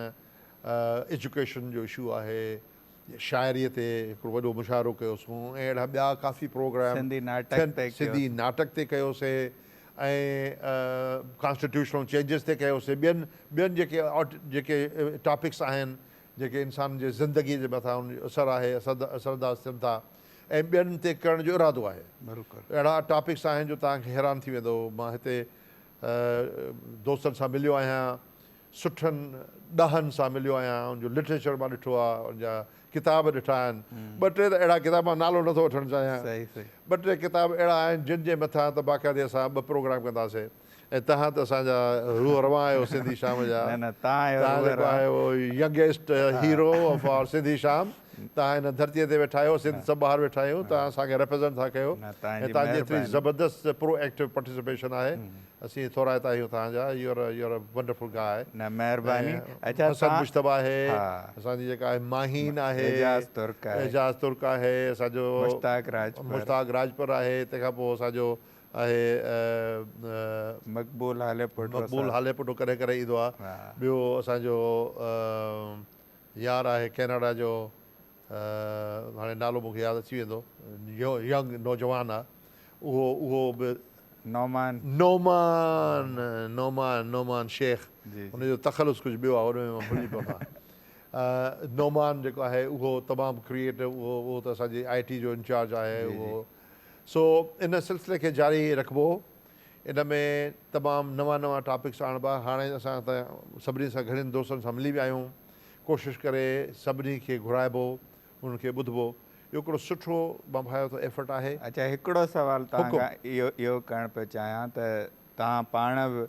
[SPEAKER 2] ايجوڪيشن جو اشو آهي شاعري تي هڪڙو وڏو مشاعرو ڪيوسون ۽ اهڙا ٻيا ڪافي پروگرام سنڌي ناٽڪ تي سنڌي ناٽڪ تي ڪيوسي ۽ ڪانسٽيٽيوشنل چينجز تي ڪيوسي ٻين ٻين جيڪي جيڪي ٽاپڪس آهن جيڪي انسان جي زندگي جي مٿان اثر آهي اثر اثر انداز ٿين ٿا ۽ ٻين تي ڪرڻ جو ارادو آهي. اهڙا ٽاپڪس آهن جو توهان کي حيران ٿي ويندو. مان هتي دوستن سان مليو آهيان، سٺن ڏاهن سان مليو آهيان، ان جو لٽريچر مان ڏٺو آهي، ان جا ڪتاب ڏٺا آهن. ٻه ٽي ته اهڙا ڪتاب مان نالو نٿو وٺڻ چاهيان. ٻه ٽي ڪتاب اهڙا آهن جن جي مٿان ته باقاعدي اسان ٻه پروگرام ڪنداسين. ۽ تهان ته اسان جا روح روان آهيو سنڌي شام جا نه نه تهان آهيو تهان روح جيڪو روان آهيو youngest hero of our Sindhi شام تهان هن ڌرتيء تي ويٺا آهيو سنڌ سڀ ٻاهر ويٺا آهيون تهان اسان کي ريپريزينٽ ٿا ڪيو نه تهان ۽ جي تهان جي ايتري مهرباني
[SPEAKER 1] زبردست
[SPEAKER 2] پرو
[SPEAKER 1] ايڪٽو
[SPEAKER 2] پارٽيسپيشن آهي اسين ٿورائتا آهيون تهان جا you are you are a wonderful guy نه مهرباني ۽
[SPEAKER 1] اچا حسن تهان مجتبيٰ آهي ها
[SPEAKER 2] اسان جي جيڪا
[SPEAKER 1] آهي
[SPEAKER 2] ماهين آهي اعجاز ترڪ آهي
[SPEAKER 1] اعجاز ترڪ آهي
[SPEAKER 2] اسان جو مشتاق راجپر مشتاق راجپر آهي تنهن کان پوء اسان جو آهي ۽ مقبول
[SPEAKER 1] هالي پٽو سان. مقبول هالي پٽو
[SPEAKER 2] ڪڏهن ڪڏهن ايندو آهي. ٻيو اسان جو يار آهي ڪئناڊا جو هاڻي نالو مون کي ياد اچي ويندو ينگ نوجوان آهي اهو اهو به نعمان نعمان نعمان نعمان شيخ جي ان جو تخلص ڪجهه ٻيو آهي ان ۾ مان ڀلجي پيو آهيان نعمان جيڪو آهي اهو تمام ڪريئيٽو اهو اهو ته اسان جي آئي ٽي جو انچارج آهي اهو سو ان سلسلي کي جاري رکبو. ان ۾ تمام نوان نوان ٽاپڪس آڻبا. هاڻي اسان ته سڀني سان گهڻين دوستن سان ملي ويا آهيون. ڪوشش ڪري سڀني کي گهرائبو انهن کي ٻڌبو. اهو هڪڙو سٺو مان ڀانيو ٿو ايفرٽ آهي. اچا هڪڙو سوال
[SPEAKER 1] توهان حڪم. کان اهو اهو ڪرڻ پيو چاهيان ته توهان پاڻ به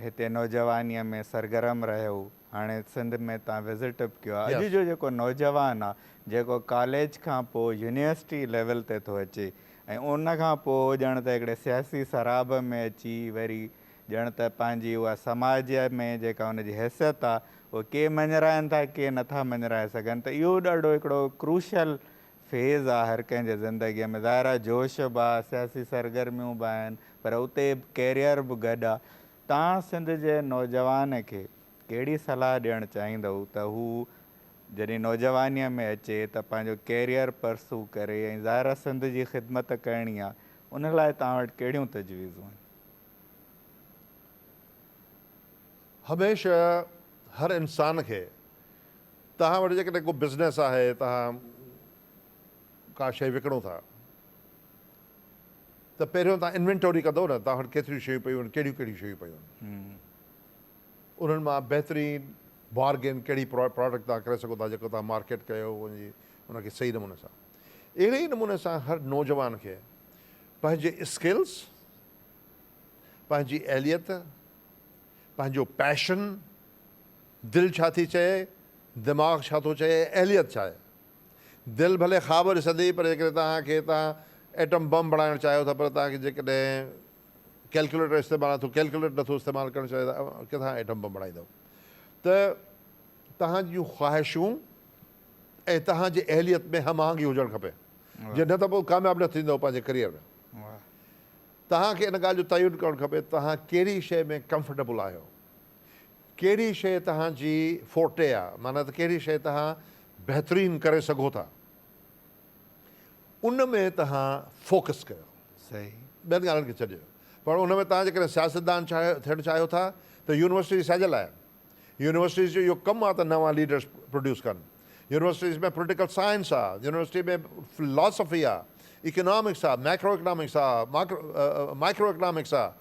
[SPEAKER 1] هتي نوجوانيء ۾ سرگرم رهيو. هاڻي سنڌ ۾ تان وزٽ به ڪيو آهي اڄ جو جيڪو نوجوان آهي جيڪو ڪاليج کان پوء يونيورسٽي ليول تي ٿو اچي ۽ ان کان پوء ڄڻ ته هڪڙي سياسي سراب ۾ اچي وري ڄڻ ته پنهنجي اها سماج ۾ جيڪا ان جي حيثيت آهي اها ڪي مڃرائن ٿا ڪي نٿا مڃرائي سگهن ته اهو ڏاڍو هڪڙو ڪروشل فيز آهي هر ڪنهن جي زندگي ۾ ظاهر آهي جوش به آهي سياسي سرگرميون به آهن پر اتي ڪيريئر به گڏ آهي توهان سنڌ جي نوجوان کي ڪهڙي صلاح ڏيڻ چاهيندؤ ته هو جڏهن نوجوانيء ۾ اچي ته پنهنجو ڪيريئر پرسو ڪري ۽ ظاهر آهي سنڌ جي خدمت ڪرڻي آهي ان لاء توهان وٽ ڪهڙيون تجويزون آهن؟
[SPEAKER 2] هميشه هر انسان کي توهان وٽ جيڪڏهن ڪو بزنس آهي توهان ڪا شئي وڪڻو ٿا. ته پهريون تان انوينٽوري ڪندو نه تان وٽ ڪيتريون شيون پيون آهن ڪهڙيون ڪهڙيون شيون پيون آهن انهن مان بهترين بارگين ڪهڙي پراڊڪٽ تان ڪري سگهو ٿا جيڪو تان مارڪيٽ ڪيو ان کي صحيح نموني سان اهڙي ئي نموني سان هر نوجوان کي پنهنجي اسڪلز پنهنجي اهليت پنهنجو پيشن دل ڇا ٿي چئي دماغ ڇا ٿو چئي اهليت ڇا آهي دل ڀلي خواب ڏسندي پر جيڪڏهن توهان کي توهان ايٽم بم بڻائڻ چاهيو ٿا پر توهان کي جيڪڏهن ڪيلڪيوليٽر استعمال نٿو ڪيلڪيوليٽ نٿو استعمال ڪرڻ چاهيو ته اوهان ڪٿان ايٽم بم بڻائيندو ته توهان جون خواهشون ۽ توهان جي اهليت ۾ هم آهنگي هجڻ کپي جي نه ته پوء ڪامياب نه ٿيندو پنهنجي ڪريئر ۾ توهان کي ان ڳالهه جو تعين ڪرڻ کپي توهان ڪهڙي شيء ۾ ڪمفرٽيبل آهيو ڪهڙي شيء توهان جي فورٽي آ، معنيٰ ته ڪهڙي شيء توهان بهترين ڪري سگهو ٿا، ان ۾ توهان فوڪس ڪيو. ٻين
[SPEAKER 1] ڳالهين کي
[SPEAKER 2] ڇڏيو. پر ان ۾ توهان جيڪڏهن سياستدان ٿيڻ چاهيو ٿا ته يونيورسٽيز ڇا جي لاء آهن؟ يونيورسٽيز جو اهو ڪم آ ته نوان ليڊرز پروڊيوس ڪن. يونيورسٽيز ۾ پوليٽيڪل سائنس آ، يونيورسٽي ۾ فلاسافي آ، اڪنامڪس آ، ميڪرو اڪنامڪس آ، مائڪرو اڪنامڪس آ،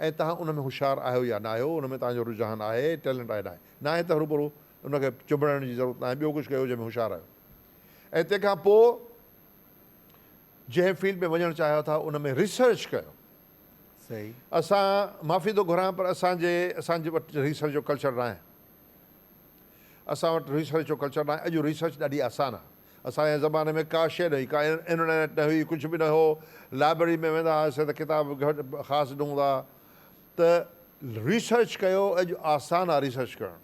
[SPEAKER 2] ۽ توهان ان ۾ هوشيار آهيو يا ناهيو، ان ۾ توهان جو رجحان آهي، ٽيلنٽ آهي ناهي. ناهي ته هروڀرو ان کي چنبڙائڻ جي ضرورت ناهي، ٻيو ڪجهه ڪيو جنهن ۾ هوشيار آهيو. ۽ تنهن کان پوء جنهن فيلڊ ۾ وڃڻ چاهيو ٿا ان ۾ ريسرچ ڪيو. صحيح.
[SPEAKER 1] اسان
[SPEAKER 2] معافي ٿو گهران پر اسان جي اسان جي وٽ ريسرچ جو ڪلچر ناهي. اسان وٽ ريسرچ جو ڪلچر ناهي. اڄ ريسرچ ڏاڍي آسان آهي. اسان جي زماني ۾ ڪا شيء نه هئي، ڪا انرنيٽ نه هئي، ڪجهه به نه هو. لائبرري ۾ ويندا هئاسين ته ڪتاب به گهٽ خاص نه هوندا ها ته ريسرچ ڪيو، اڄ آسان آهي ريسرچ ڪرڻ.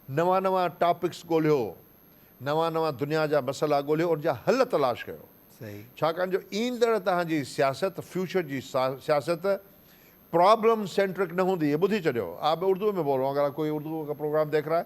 [SPEAKER 2] نوان نوان ٽاپڪس ڳولهيو، نوان نوان دنيا جا مسئلا ڳولهيو، ان جا حل تلاش ڪيو. ڇاڪاڻ
[SPEAKER 1] جو ايندڙ
[SPEAKER 2] توهان جي سياست، فيوچر جي سياست پرابلم سينٽرڪ نه هوندي، هي ٻڌي ڇڏيو. آپ اردو مين بول رها هون، اگر آپ ڪوئي اردو ڪا پروگرام ديکھ رها هي.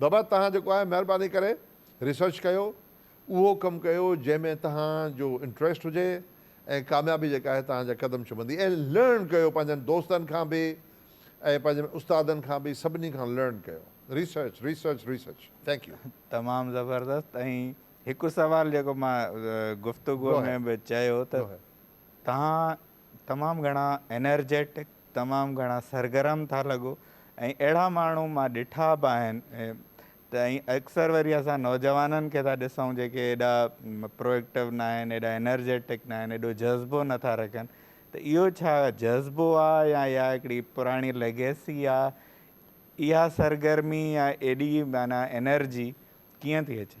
[SPEAKER 2] بابا توهان جيڪو آهي مهرباني ڪري ريسرچ ڪيو اهو ڪم ڪيو جنهن ۾ توهان جو انٽريسٽ هجي ۽ ڪاميابي جيڪا آهي توهان جا قدم چمندي ۽ لرن ڪيو پنهنجن دوستن کان به ۽ پنهنجن استادن کان به سڀني کان لرن ڪيو research research research thank you. تمام زبردست
[SPEAKER 1] ۽ هڪ سوال جيڪو مان گفتگو ۾ به چيو ته توهان تمام گهڻا انرجيٽڪ تمام گهڻا سرگرم ٿا لڳو ۽ اهڙا ماڻهو مان ڏٺا به آهن ته ۽ اڪثر وري اسان نوجوانن کي ٿا ڏسون جيڪي ايڏا پروئيڪٽو نه آهن ايڏا انرجيٽڪ نه آهن ايڏو جذبو نٿا رکن ته اهو ڇا جذبو آهي يا اها هڪڙي پراڻي ليگيسي آهي اها سرگرمي يا ايڏي معنيٰ انرجي ڪيئن ٿي اچي؟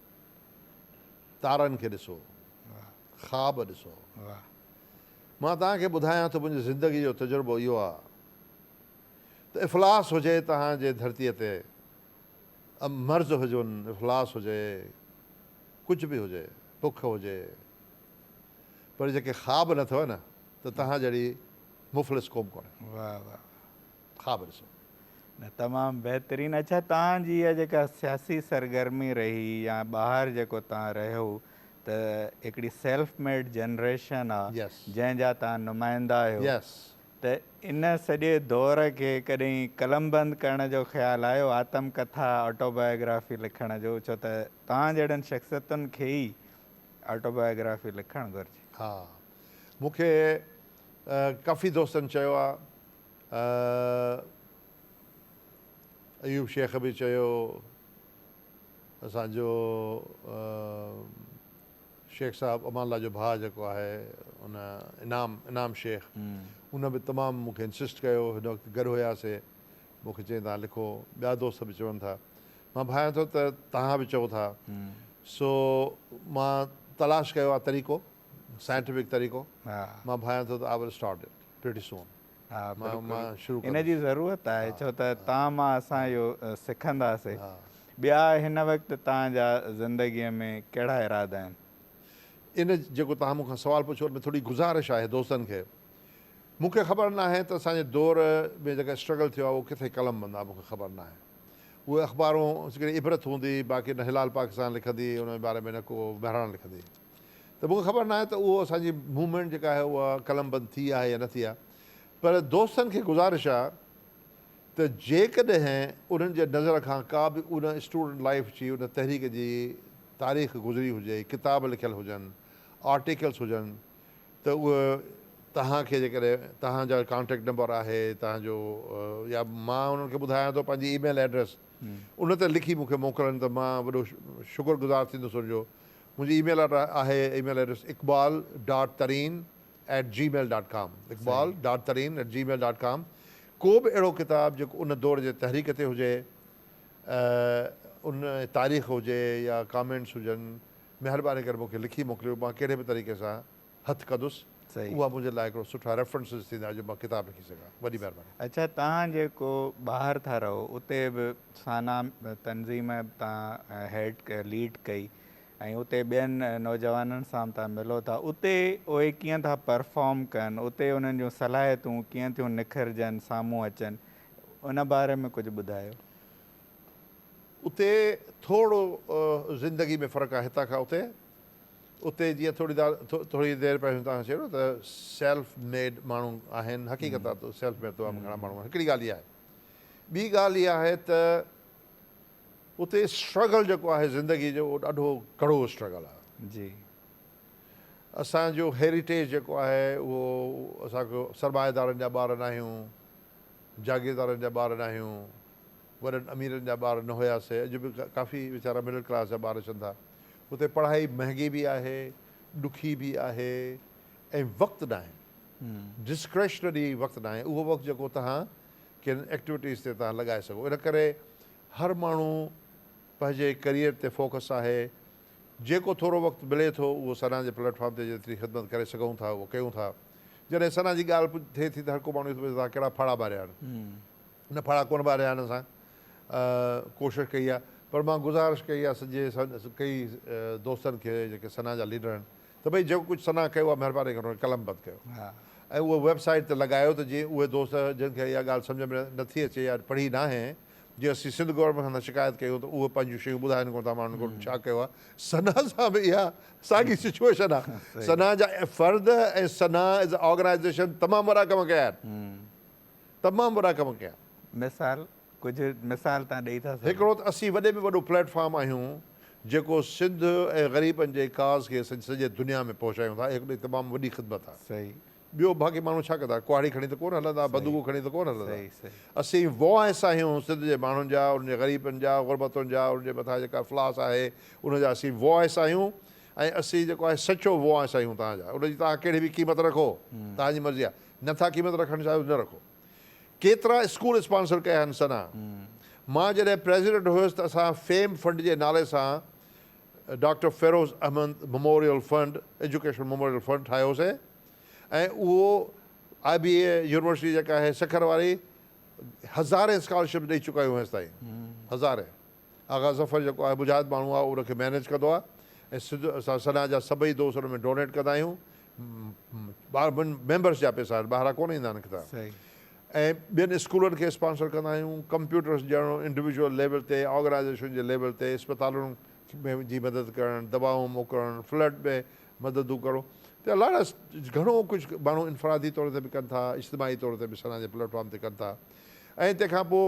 [SPEAKER 2] تارن کي ڏسو، خواب ڏسو. مان توهان کي ٻڌايان ٿو منهنجي زندگي جو تجربو اهو آهي ته افلاس هجي توهان جي ڌرتي تي مرض هجن افلاس هجي ڪجهه به هجي بک هجي پر جيڪي خواب نه اٿئو نه ته توهان جهڙي مفلس قوم ڪونهي.
[SPEAKER 1] خواب ڏسو.
[SPEAKER 2] نه تمام
[SPEAKER 1] بهترين اڇا توهان جي اها جيڪا سياسي سرگرمي رهي يا ٻاهر جيڪو توهان رهيو ته هڪڙي سيلف ميڊ جنريشن آ جنهن جا توهان نمائندا آهيو ته ان سڄي دور کي ڪڏهن قلم بند ڪرڻ جو خيال آيو آتم ڪٿا آٽو بايوگرافي لکڻ جو ڇو ته توهان جهڙن شخصيتن کي ئي آٽو بايوگرافي لکڻ گهرجي. ها
[SPEAKER 2] مون کي ڪافي دوستن چيو آ ۽ ايوب شيخ به چيو اسان جو شيخ صاحب امان الله جو ڀاء جيڪو آهي ان انعام انعام شيخ ان به تمام مون کي انسسٽ ڪيو هن وقت گڏ هياسي مون کي چيائين تان لکو ٻيا دوست به چون ٿا مان ڀانيان ٿو ته توهان به چئو ٿا سو مان تلاش ڪيو آهي طريقو سائنٽيفڪ طريقو مان ڀانيان ٿو ته I will start it pretty soon ان جي ضرورت آهي
[SPEAKER 1] ڇو ته تان مان اسان اهو سکنداسي ٻيا هن وقت تان جا زندگي ۾ ڪهڙا ارادا آهن ان
[SPEAKER 2] جيڪو تان مون کان سوال پڇيو ان ۾ ٿوري گذارش آهي دوستن کي مون کي خبر ناهي ته اسان جي دور ۾ جيڪا اسٽرگل ٿيو آهي اهو ڪٿي قلم بند آهي مون کي خبر ناهي اهي اخبارون سگري عبرت هوندي باقي نه هلال پاڪستان لکندي ان جي باري ۾ نه ڪو مهراڻ لکندي ته مون کي خبر ناهي ته اهو اسان جي موومينٽ جيڪا آهي اها قلم بند ٿي آهي يا نه ٿي آهي پر دوستن کي گذارش آهي ته جيڪڏهن انهن جي نظر کان ڪا به ان اسٽوڊنٽ لائيف جي ان تحريڪ جي تاريخ گذري هجي ڪتاب لکيل هجن آرٽيڪلس هجن ته اهي توهان کي جيڪڏهن توهان جا ڪانٽيڪٽ نمبر آهي توهان جو يا مان انهن کي ٻڌايان ٿو پنهنجي اي ميل ايڊريس ان تي لکي مون کي موڪلن ته مان وڏو شڪر گذار ٿيندس ان جو منهنجي اي ميل آئي ڊي آهي email address Iqbal dot Tareen at gmail dot com Iqbal dot Tareen at gmail dot com ڪو به اهڙو ڪتاب جيڪو ان دور جي تحريڪ تي هجي ان تاريخ هجي يا ڪامينٽس هجن مهرباني ڪري مون کي لکي موڪليو مان ڪهڙي به طريقي سان هٿ ڪندس صحيح. اها منهنجي لاء هڪڙو سٺا ريفرنسز ٿيندا جو مان ڪتاب لکي سگهان. وڏي مهرباني. اڇا توهان جيڪو
[SPEAKER 1] ٻاهر ٿا رهو اتي به سانا تنظيم تان هيڊ ليڊ ڪئي ۽ اتي ٻين نوجوانن سان به تان ملو ٿا اتي اهي ڪيئن ٿا پرفارم ڪن اتي انهن جون صلاحيتون ڪيئن ٿيون نکرجن سامهون اچن ان باري ۾ ڪجهه ٻڌايو.
[SPEAKER 2] اتي ٿورڙو زندگي ۾ فرق آهي هتان کان اتي. اتي جيئن ٿوري دار ٿوري دير پهريون توهان چيو نه ته سيلف ميڊ ماڻهو آهن حقيقت آهي ته سيلف ميڊ تمام گهڻا ماڻهو آهن هڪڙي ڳالهه اها آهي ٻي ڳالهه اها آهي ته اتي اسٽرگل جيڪو آهي زندگي جو اهو ڏاڍو ڪڙو اسٽرگل آهي جي اسانجو هيريٽيج جيڪو آهي اهو اسان کي سرمائيدارن جا ٻار ناهيون جاگيردارن جا ٻار ناهيون وڏن اميرن جا ٻار نه هيا سي اڄ به ڪافي ويچارا مڊل ڪلاس جا ٻار اچن ٿا اتي پڙهائي مهنگي به آهي ڏکي به آهي ۽ وقت ناهي ڊسڪريشنري وقت ناهي اهو وقت جيڪو تهان ڪن ايڪٽيوٽيز تي تهان لڳائي سگهو ان ڪري هر ماڻهو پنهنجي ڪريئر تي فوڪس آهي جيڪو ٿورو وقت ملي ٿو اهو سنا جي پليٽ فارم تي جيتري خدمت ڪري سگهون ٿا اهو ڪيون ٿا جڏهن سنا جي ڳالهه ٿئي ٿي ته هر ڪو ماڻهو ٿو پڇي ته تهان ڪهڙا ڦاڙها ٻاريا آهن ان ڦڙا ڪونه ٻاريا آهن اسان ڪوشش ڪئي آهي پر مان گذارش ڪئي آهي سڄي ڪئي دوستن کي جيڪي سنا جا ليڊر آهن ته ڀئي جيڪو ڪجهه سنا ڪيو آهي مهرباني ڪري ان کي قلم بند ڪيو ۽ اهو ويب سائيٽ تي لڳايو ته جيئن اهي دوست جن کي اها ڳالهه سمجهه ۾ نه ٿي اچي يا پڙهي ناهي جي اسين سنڌ گورنمينٽ کان شڪايت ڪيون ته اهي پنهنجون شيون ٻڌائن ڪونه ٿا ماڻهن ڪوٺ ڇا ڪيو آهي سنا سان به اها ساڳي سچويشن آهي سنا جا فرد ۽ سنا ايز آرگنائيزيشن تمام وڏا ڪم ڪيا آهن تمام وڏا ڪم ڪيا. مثال،
[SPEAKER 1] ڪجهه مثال تان ڏئي ٿا سگهو. هڪڙو ته اسين وڏي
[SPEAKER 2] ۾ وڏو پليٽ فارم آهيون جيڪو سنڌ ۽ غريبن جي ڪاز کي سڄي دنيا ۾ پهچايون ٿا هڪڙي تمام وڏي خدمت آ. صحيح. ٻيو باقي
[SPEAKER 1] ماڻهو
[SPEAKER 2] ڇا ڪندا ڪهاڙي کڻي ته ڪونه هلندا بندوقون کڻي ته ڪونه هلندا صحيح صحيح. اسين وائس آهيون سنڌ جي ماڻهن جا انهن جي غريبن جا غربتن جا انهن جي مٿان جيڪا افلاس آهي ان جا اسين وائس آهيون ۽ اسين جيڪو آهي سچو وائس آهيون تهان جا ان جي تهان ڪهڙي به قيمت رکو تهان جي مرضي آ نه ٿا قيمت رکڻ چاهيو نه رکو ڪيترا اسڪول اسپانسر ڪيا آهن سنا مان جڏهن پريزيڊنٽ هيس ته اسان فيم فنڊ جي نالي سان doctor Feroz Ahmed memorial fund education memorial fund ٺاهيو هوسين ۽ اهو آء بي اي يونيورسٽي جيڪا آهي سکر واري هزارين اسڪالرشپ ڏئي چڪايون هيستائين هزارين آغا ظفر جيڪو آهي مجاهد ماڻهو آهي ان کي مينيج ڪندو آهي ۽ سڌو اسان سنا جا سڀئي دوست ان ۾ ڊونيٽ ڪندا آهيون ميمبرس جا پئسا آهن ٻاهران ڪونه ايندا آهن ڪتاب ۽ ٻين اسڪولن کي اسپانسر ڪندا آهيون ڪمپيوٽرس ڏيڻ انڊويجوئل ليول تي آرگنائيزيشن جي ليول تي اسپتالن جي مدد ڪرڻ دوائون موڪلڻ فلڊ ۾ مددون ڪرڻ ته لاڙا گهڻو ڪجهه ماڻهو انفرادي طور تي به ڪن ٿا اجتماعي طور تي به سنا جي پليٽ فارم تي ڪن ٿا ۽ تنهن کان پوء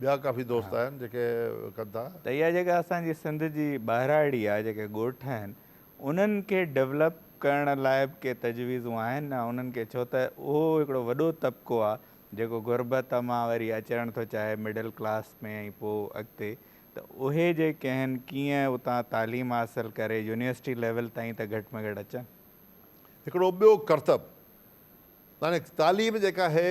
[SPEAKER 2] ٻيا ڪافي دوست آهن جيڪي ڪن ٿا. ته اها جيڪا اسان جي
[SPEAKER 1] سنڌ جي ٻاهراڙي آهي جيڪي ڳوٺ آهن انهن کي ڊولپ ڪرڻ لاء به ڪي تجويزون آهن انهن کي ڇو ته اهو هڪڙو وڏو طبقو آهي جيڪو غربت مان وري اچڻ ٿو چاهي مڊل ڪلاس ۾ ۽ پوء اڳتي ته اهي جي ڪنهن ڪيئن اتان تعليم حاصل ڪري يونيورسٽي ليول تائين ته گهٽ ۾ گهٽ اچن. هڪڙو
[SPEAKER 2] ٻيو ڪرتب يعني تعليم جيڪا هي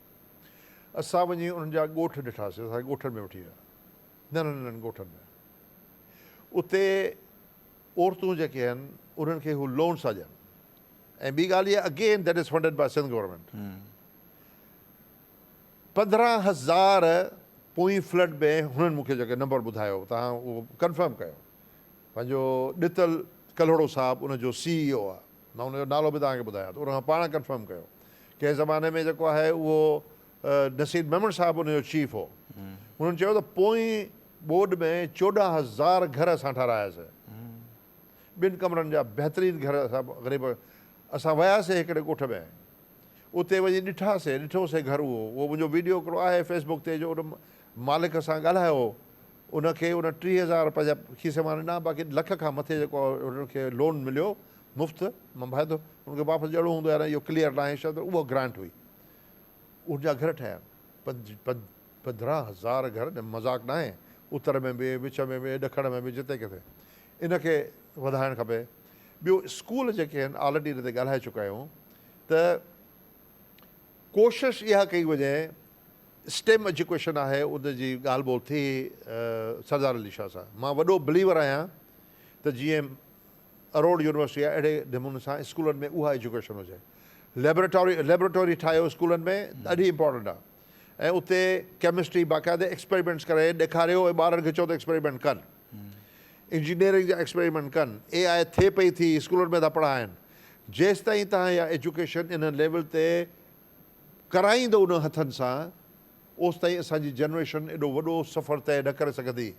[SPEAKER 2] اسان وڃي انهن جا ڳوٺ ڏٺاسين، اسان کي ڳوٺن ۾ وٺي ويا، ننڍن ننڍن ڳوٺن ۾. اتي عورتون جيڪي آهن، انهن کي هو لونس ٿا ڏين ۽ ٻي ڳالهه اها again that is funded by Sindh government. پندرهن هزار پوئين فلڊ ۾ هنن مون کي جيڪو نمبر ٻڌايو، توهان اهو ڪنفرم ڪيو، پنهنجو ڏتل ڪلهوڙو صاحب ان جو سي اي او آهي. مان ان جو نالو به توهان کي ٻڌايان ٿو، ان کان پاڻ ڪنفرم ڪيو. ڪنهن زماني ۾ جيڪو آهي اهو نصير ميمڻ صاحب ان جو چيف هو. هنن چيو ته پوئين ٻوڏ ۾ چوڏهن هزار گهر اسان ٺاراياسين. ٻن ڪمرن جا بهترين گهر اسان غريب اسان وياسين هڪڙي ڳوٺ ۾، اتي وڃي ڏٺاسين، ڏٺوسين گهر اهو، اهو منهنجو ويڊيو هڪڙو آهي فيسبوڪ تي جو ان مالڪ سان ڳالهايو هو ان کي ان ٽيهه هزار روپيا جا کيسي مان ڏنا باقي لک کان مٿي جيڪو هن کي لون مليو مفت مان بهادر ان کي واپس ڏيڻو هوندو يا اهو ڪليئر ناهي شايد پر اها گرانٽ هئي ان جا گهر ٺهيا پنج پنج پندرهن هزار گهر ڄڻ مذاق ناهي اتر ۾ به وچ ۾ به ڏکڻ ۾ به جتي ڪٿي ان کي وڌائڻ کپي ٻيو اسڪول جيڪي آهن آلريڊي هن تي ڳالهائي چڪا آهيون ته ڪوشش اها ڪئي وڃي اسٽيم ايجوڪيشن آهي ان جي ڳالهه ٻولهه ٿي سردار علي شاهه سان مان وڏو بليور آهيان ته جي ايم اروڙ يونيورسٽي آهي اهڙي نموني سان اسڪولن ۾ اها ايجوڪيشن هجي ليبريٽوري ليبريٽوري ٺاهيو اسڪولن ۾ ڏاڍي امپورٽنٽ آهي ۽ اتي ڪيمسٽري باقاعده ايڪسپيريمينٽس ڪري ڏيکاريو ۽ ٻارن کي چئو ته ايڪسپيريمينٽ ڪن انجنيئرنگ جا ايڪسپيريمينٽ ڪن اي آء ٿي پئي ٿي اسڪولن ۾ ٿا پڙهائن جيستائين تان اها ايجوڪيشن ان ليول تي ڪرائيندو انهن هٿن سان، اوستائين اسان جي جنريشن ايڏو وڏو سفر طئي نه ڪري سگهندي،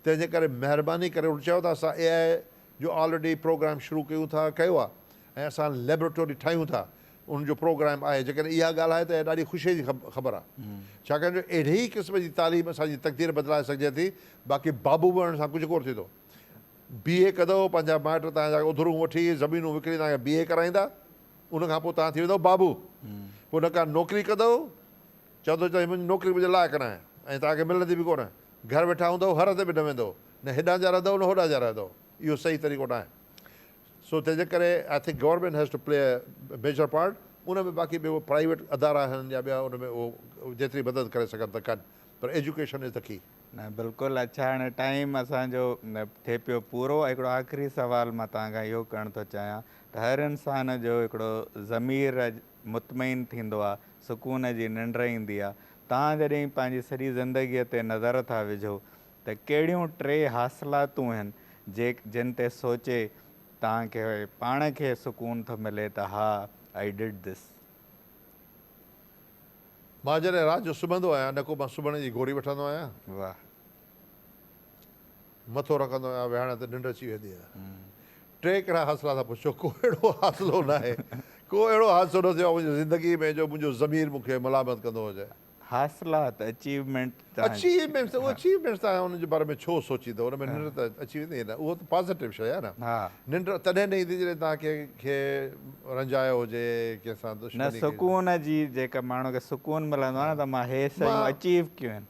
[SPEAKER 2] تنهن جي ڪري مهرباني ڪري هن چيو ته اسان اي آء جو آلريڊي پروگرام شروع ڪيون ٿا ڪيو آهي ۽ اسان ليبريٽوري ٺاهيون ٿا ان جو پروگرام آهي جيڪڏهن اها ڳالهه آهي ته اها ڏاڍي خوشي جي خبر آهي ڇاڪاڻ جو اهڙي ئي قسم جي تعليم اسان جي تقدير بدلائي سگهجي ٿي باقي بابو بڻڻ سان ڪجهه ڪونه ٿيندو بي اي ڪندؤ پنهنجا مائٽ تهان جا اڌرون وٺي زمينون وڪڻي تهان کي بي اي ڪرائيندا ان کان پوء توهان ٿي ويندؤ بابو. پوء نه ڪا نوڪري ڪندؤ. چوندؤ ته هي منهنجي نوڪري منهنجي لائق ناهي ۽ توهان کي ملندي به ڪونه. گهر ويٺا هوندؤ، هر هنڌ به نه ويندؤ. نه هيڏانهن جا رهندؤ نه هوڏانهن جا رهندؤ. اهو صحيح طريقو ناهي. سو تنهنجي ڪري I think government has to play a major part ان ۾ باقي ٻيو پرائيويٽ ادارا آهن يا ٻيا ان ۾ اهو جيتري مدد ڪري سگهن ته ڪن پر ايجوڪيشن از د ڪي. نه بلڪل اڇا
[SPEAKER 1] هاڻي ٽائيم اسان جو ٿي پيو پورو هڪڙو آخري سوال مان توهان کان اهو ڪرڻ ٿو چاهيان ته هر انسان جو هڪڙو ضمير مطمئن ٿيندو آ، سڪون جي ننڊ ايندي آ. توهان جڏهن پنهنجي سڄي زندگيء تي نظر ٿا وجهو ته ڪهڙيون ٽي حاصلاتون هن جن تي سوچي توهان کي پاڻ کي سڪون ٿو ملي ته ها I did this.
[SPEAKER 2] مان جڏهن رات جو سمهندو آهيان نه ڪو مان سمهڻ جي گوري وٺندو آهيان. واه. مٿو رکندو آهيان ويهاڻي ته ننڊ اچي ويندي آهي ٽي ڪهڙا حاصلا ٿا پڇو ڪو اهڙو حاصلو ناهي ڪو اهڙو حادثو نه ٿيو آهي منهنجي زندگي ۾ جو منهنجو ضمير مون کي ملامت ڪندو هجي. حاصلا ته
[SPEAKER 1] اچيومينٽ تان اچيومينٽ ته
[SPEAKER 2] اچيومينٽ ته انهن جي باري ۾ ڇو سوچيندو ان ۾ ننڊ ته اچي ويندي نه اهو ته پازيٽو شيء آهي نه ننڊ تڏهن نه ايندي جڏهن توهان ڪنهن کي رنجايو هجي ڪنهن سان دشمني ڪئي نه سڪون
[SPEAKER 1] جي جيڪا ماڻهو کي سڪون ملندو آهي نه ته مان هي سيون اچيو ڪيون آهن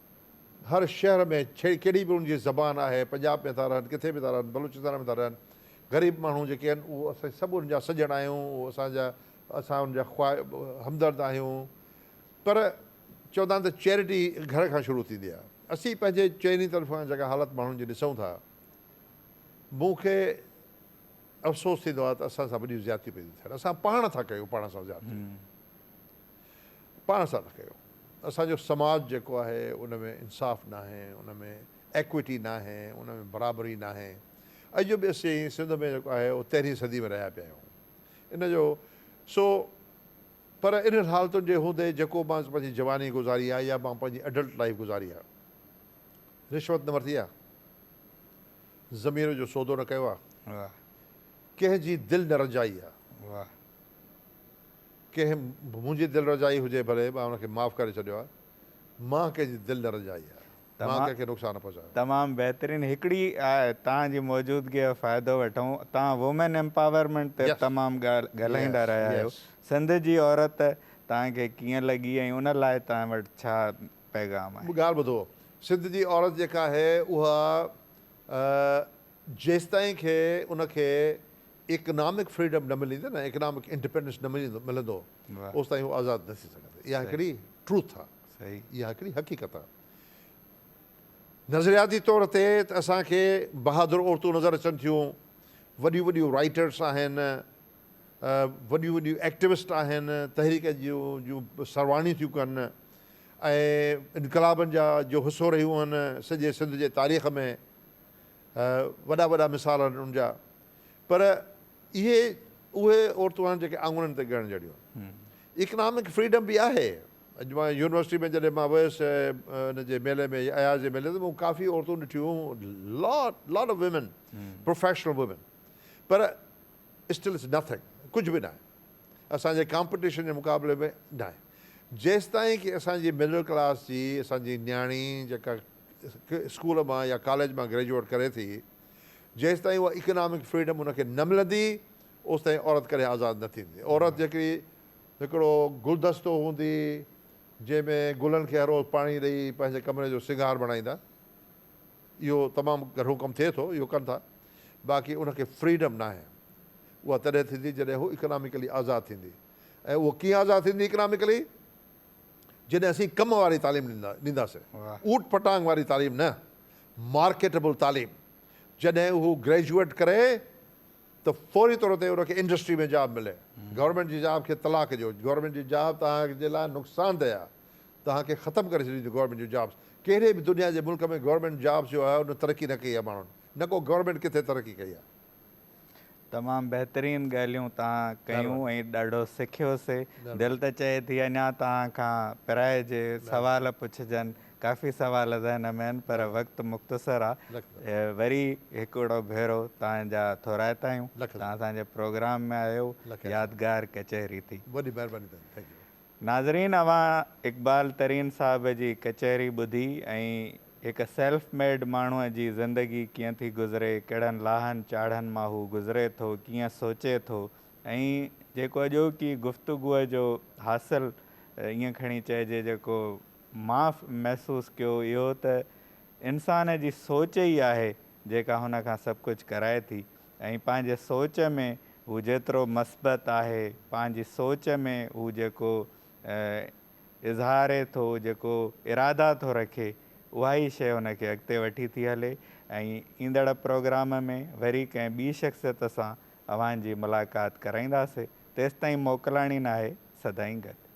[SPEAKER 2] هر شهر ۾ ڪهڙي به ان جي زبان آهي، پنجاب ۾ ٿا رهن، ڪٿي به ٿا رهن، بلوچستان ۾ ٿا رهن، غريب ماڻهو جيڪي آهن اهو اسين سڀ انهن جا سڄڻ آهيون، اهو اسان جا اسان انهن جا خواهه همدرد آهيون پر چوندا آهن ته چيرٽي گهر کان شروع ٿيندي آهي، اسين پنهنجي چئني طرفان جيڪا حالت ماڻهن جي ڏسون ٿا مون کي افسوس ٿيندو آهي ته اسان سان وڏيون زيادتيون پيون ٿي ٿين، اسان پاڻ ٿا ڪيون پاڻ سان زيادتيون. پاڻ سان نه ڪيو. اسان جو سماج جيڪو آهي ان ۾ انصاف ناهي، ان ۾ ايڪوئٽي ناهي، ان ۾ برابري ناهي. اڄ جو به اسين سنڌ ۾ جيڪو آهي اهو تيرهين صدي ۾ رهيا پيا آهيون. ان جو سو پر انهن حالتن جي هوندي جيڪو مان پنهنجي جواني گذاري آهي يا مان پنهنجي اڊلٽ لائيف گذاري آهي. رشوت نه ورتي آهي. ضمير جو سودو نه ڪيو آهي. ڪنهن جي دل نه رنجائي آهي. ڪنهن به منهنجي دل رجائي هجي ڀلي مان ان کي معاف ڪري ڇڏيو آهي مان ڪنهن جي دل نه رجائي آهي مان ڪنهن کي نقصان نه پهچايو. تمام بهترين هڪڙي
[SPEAKER 1] آء توهان جي موجودگي جو فائدو وٺون توهان وومين امپاورمينٽ تي تمام ڳالهه ڳالهائيندا رهيا آهيو سنڌ جي عورت توهان کي ڪيئن لڳي ۽ ان لاء توهان وٽ ڇا پيغام آهي. ڳالهه ٻڌو سنڌ
[SPEAKER 2] جي عورت جيڪا آهي اها جيستائين کي ان کي اڪنامڪ فريڊم نه ملندي نه اڪنامڪ انڊپينڊنس نه ملندو ملندو اوستائين هو آزاد نه ٿي سگهندي اها هڪڙي ٽروٿ آ صحيح اها هڪڙي
[SPEAKER 1] حقيقت
[SPEAKER 2] آ نظرياتي طور تي ته اسان کي بهادر عورتون نظر اچن ٿيون وڏيون وڏيون رائيٽرس آهن وڏيون وڏيون ايڪٽيوسٽ آهن تحريڪ جون جون سرواڻيون ٿيون ڪن ۽ انقلابن جا جو حصو رهيون آهن سڄي سنڌ جي تاريخ ۾ وڏا وڏا مثال آهن ان جا پر اهي اهي عورتون آهن جيڪي آڱرين تي ڳڻڻ جهڙيون آهن. اڪنامڪ فريڊم به آهي. اڄ مان يونيورسٽي ۾ جڏهن مان ويس ان جي ميلي ۾ اياز جي ميلي ۾ مون ڪافي عورتون ڏٺيون lot lot of women professional women پر اسٽل اٽس نٿنگ ڪجهه به ناهي اسان جي ڪامپيٽيشن جي مقابلي ۾ ناهي جيستائين ڪي اسان جي مڊل ڪلاس جي اسان جي نياڻي جيڪا اسڪول مان يا ڪاليج مان گريجوئيٽ ڪري ٿي جيستائين اها اڪنامڪ فريڊم ان کي نه ملندي اوستائين عورت ڪڏهن آزاد نه ٿيندي. عورت جيڪي هڪڙو گلدستو هوندي جنهن ۾ گلن کي هر روز پاڻي ڏئي پنهنجي ڪمري جو سينگار بڻائيندا اهو تمام گهڻو ڪم ٿئي ٿو اهو ڪن ٿا باقي ان کي فريڊم ناهي اها تڏهن ٿيندي جڏهن هو اڪنامڪلي آزاد ٿيندي ۽ اهو ڪيئن آزاد ٿيندي اڪنامڪلي جڏهن اسين ڪم واري تعليم ڏينداسين، اوٽ پٽانگ واري تعليم نه، مارڪيٽبل تعليم، جڏهن هو گريجوئيٽ ڪري ته فوري طور تي ان کي انڊسٽري ۾ جاب ملي، گورنمينٽ جي جاب کي طلاق ڏيو، گورنمينٽ جي جاب توهان جي لاء نقصان ده آهي، توهان کي ختم ڪري ڇڏينديون گورنمينٽ جون جابس، ڪهڙي به دنيا جي ملڪ ۾ گورنمينٽ جابس جو آهي ان ترقي نه ڪئي آهي ماڻهن نه ڪو گورنمينٽ ڪٿي ترقي ڪئي آهي. تمام
[SPEAKER 1] بهترين ڳالهيون تهان ڪيون ۽ ڏاڍو سکيوسي دل ته چئي ٿي اڃا تهان کان پرائجي سوال پڇجن ڪافي سوال ذهن ۾ آهن پر وقت مختصر آ وري هڪڙو ڀيرو تهان جا ٿورائتا آهيون تهان اسان جي پروگرام ۾ آيو يادگار ڪچهري ٿي وڏي مهرباني تهان جي ٿينڪ
[SPEAKER 2] يو ناظرين
[SPEAKER 1] اوهان اقبال ترين صاحب جي ڪچهري ٻڌي ۽ هڪ سيلف ميڊ ماڻهوء جي زندگي ڪيئن ٿي گذري، ڪهڙن لاهن چاڙهن مان هو گذري ٿو، ڪيئن سوچي ٿو ۽ جيڪو اڄوڪي گفتگوء جو حاصل ائين کڻي چئجي جيڪو مان محسوس ڪيو اهو ته انسان جي سوچ ئي آهي جيڪا هن کان سڀ ڪجهه ڪرائي ٿي. ۽ پنهنجي سوچ ۾ هو جيترو مثبت آهي، پنهنجي سوچ ۾ هو جيڪو اظهاري ٿو، جيڪو ارادا ٿو رکي، اها ئي شيء هن کي اڳتي وٺي ٿي هلي ۽ ايندڙ پروگرام ۾ وري ڪنهن ٻي شخصيت سان اوهان جي ملاقات ڪرائينداسي، تيستائين موڪلاڻي ناهي سدائين گڏ.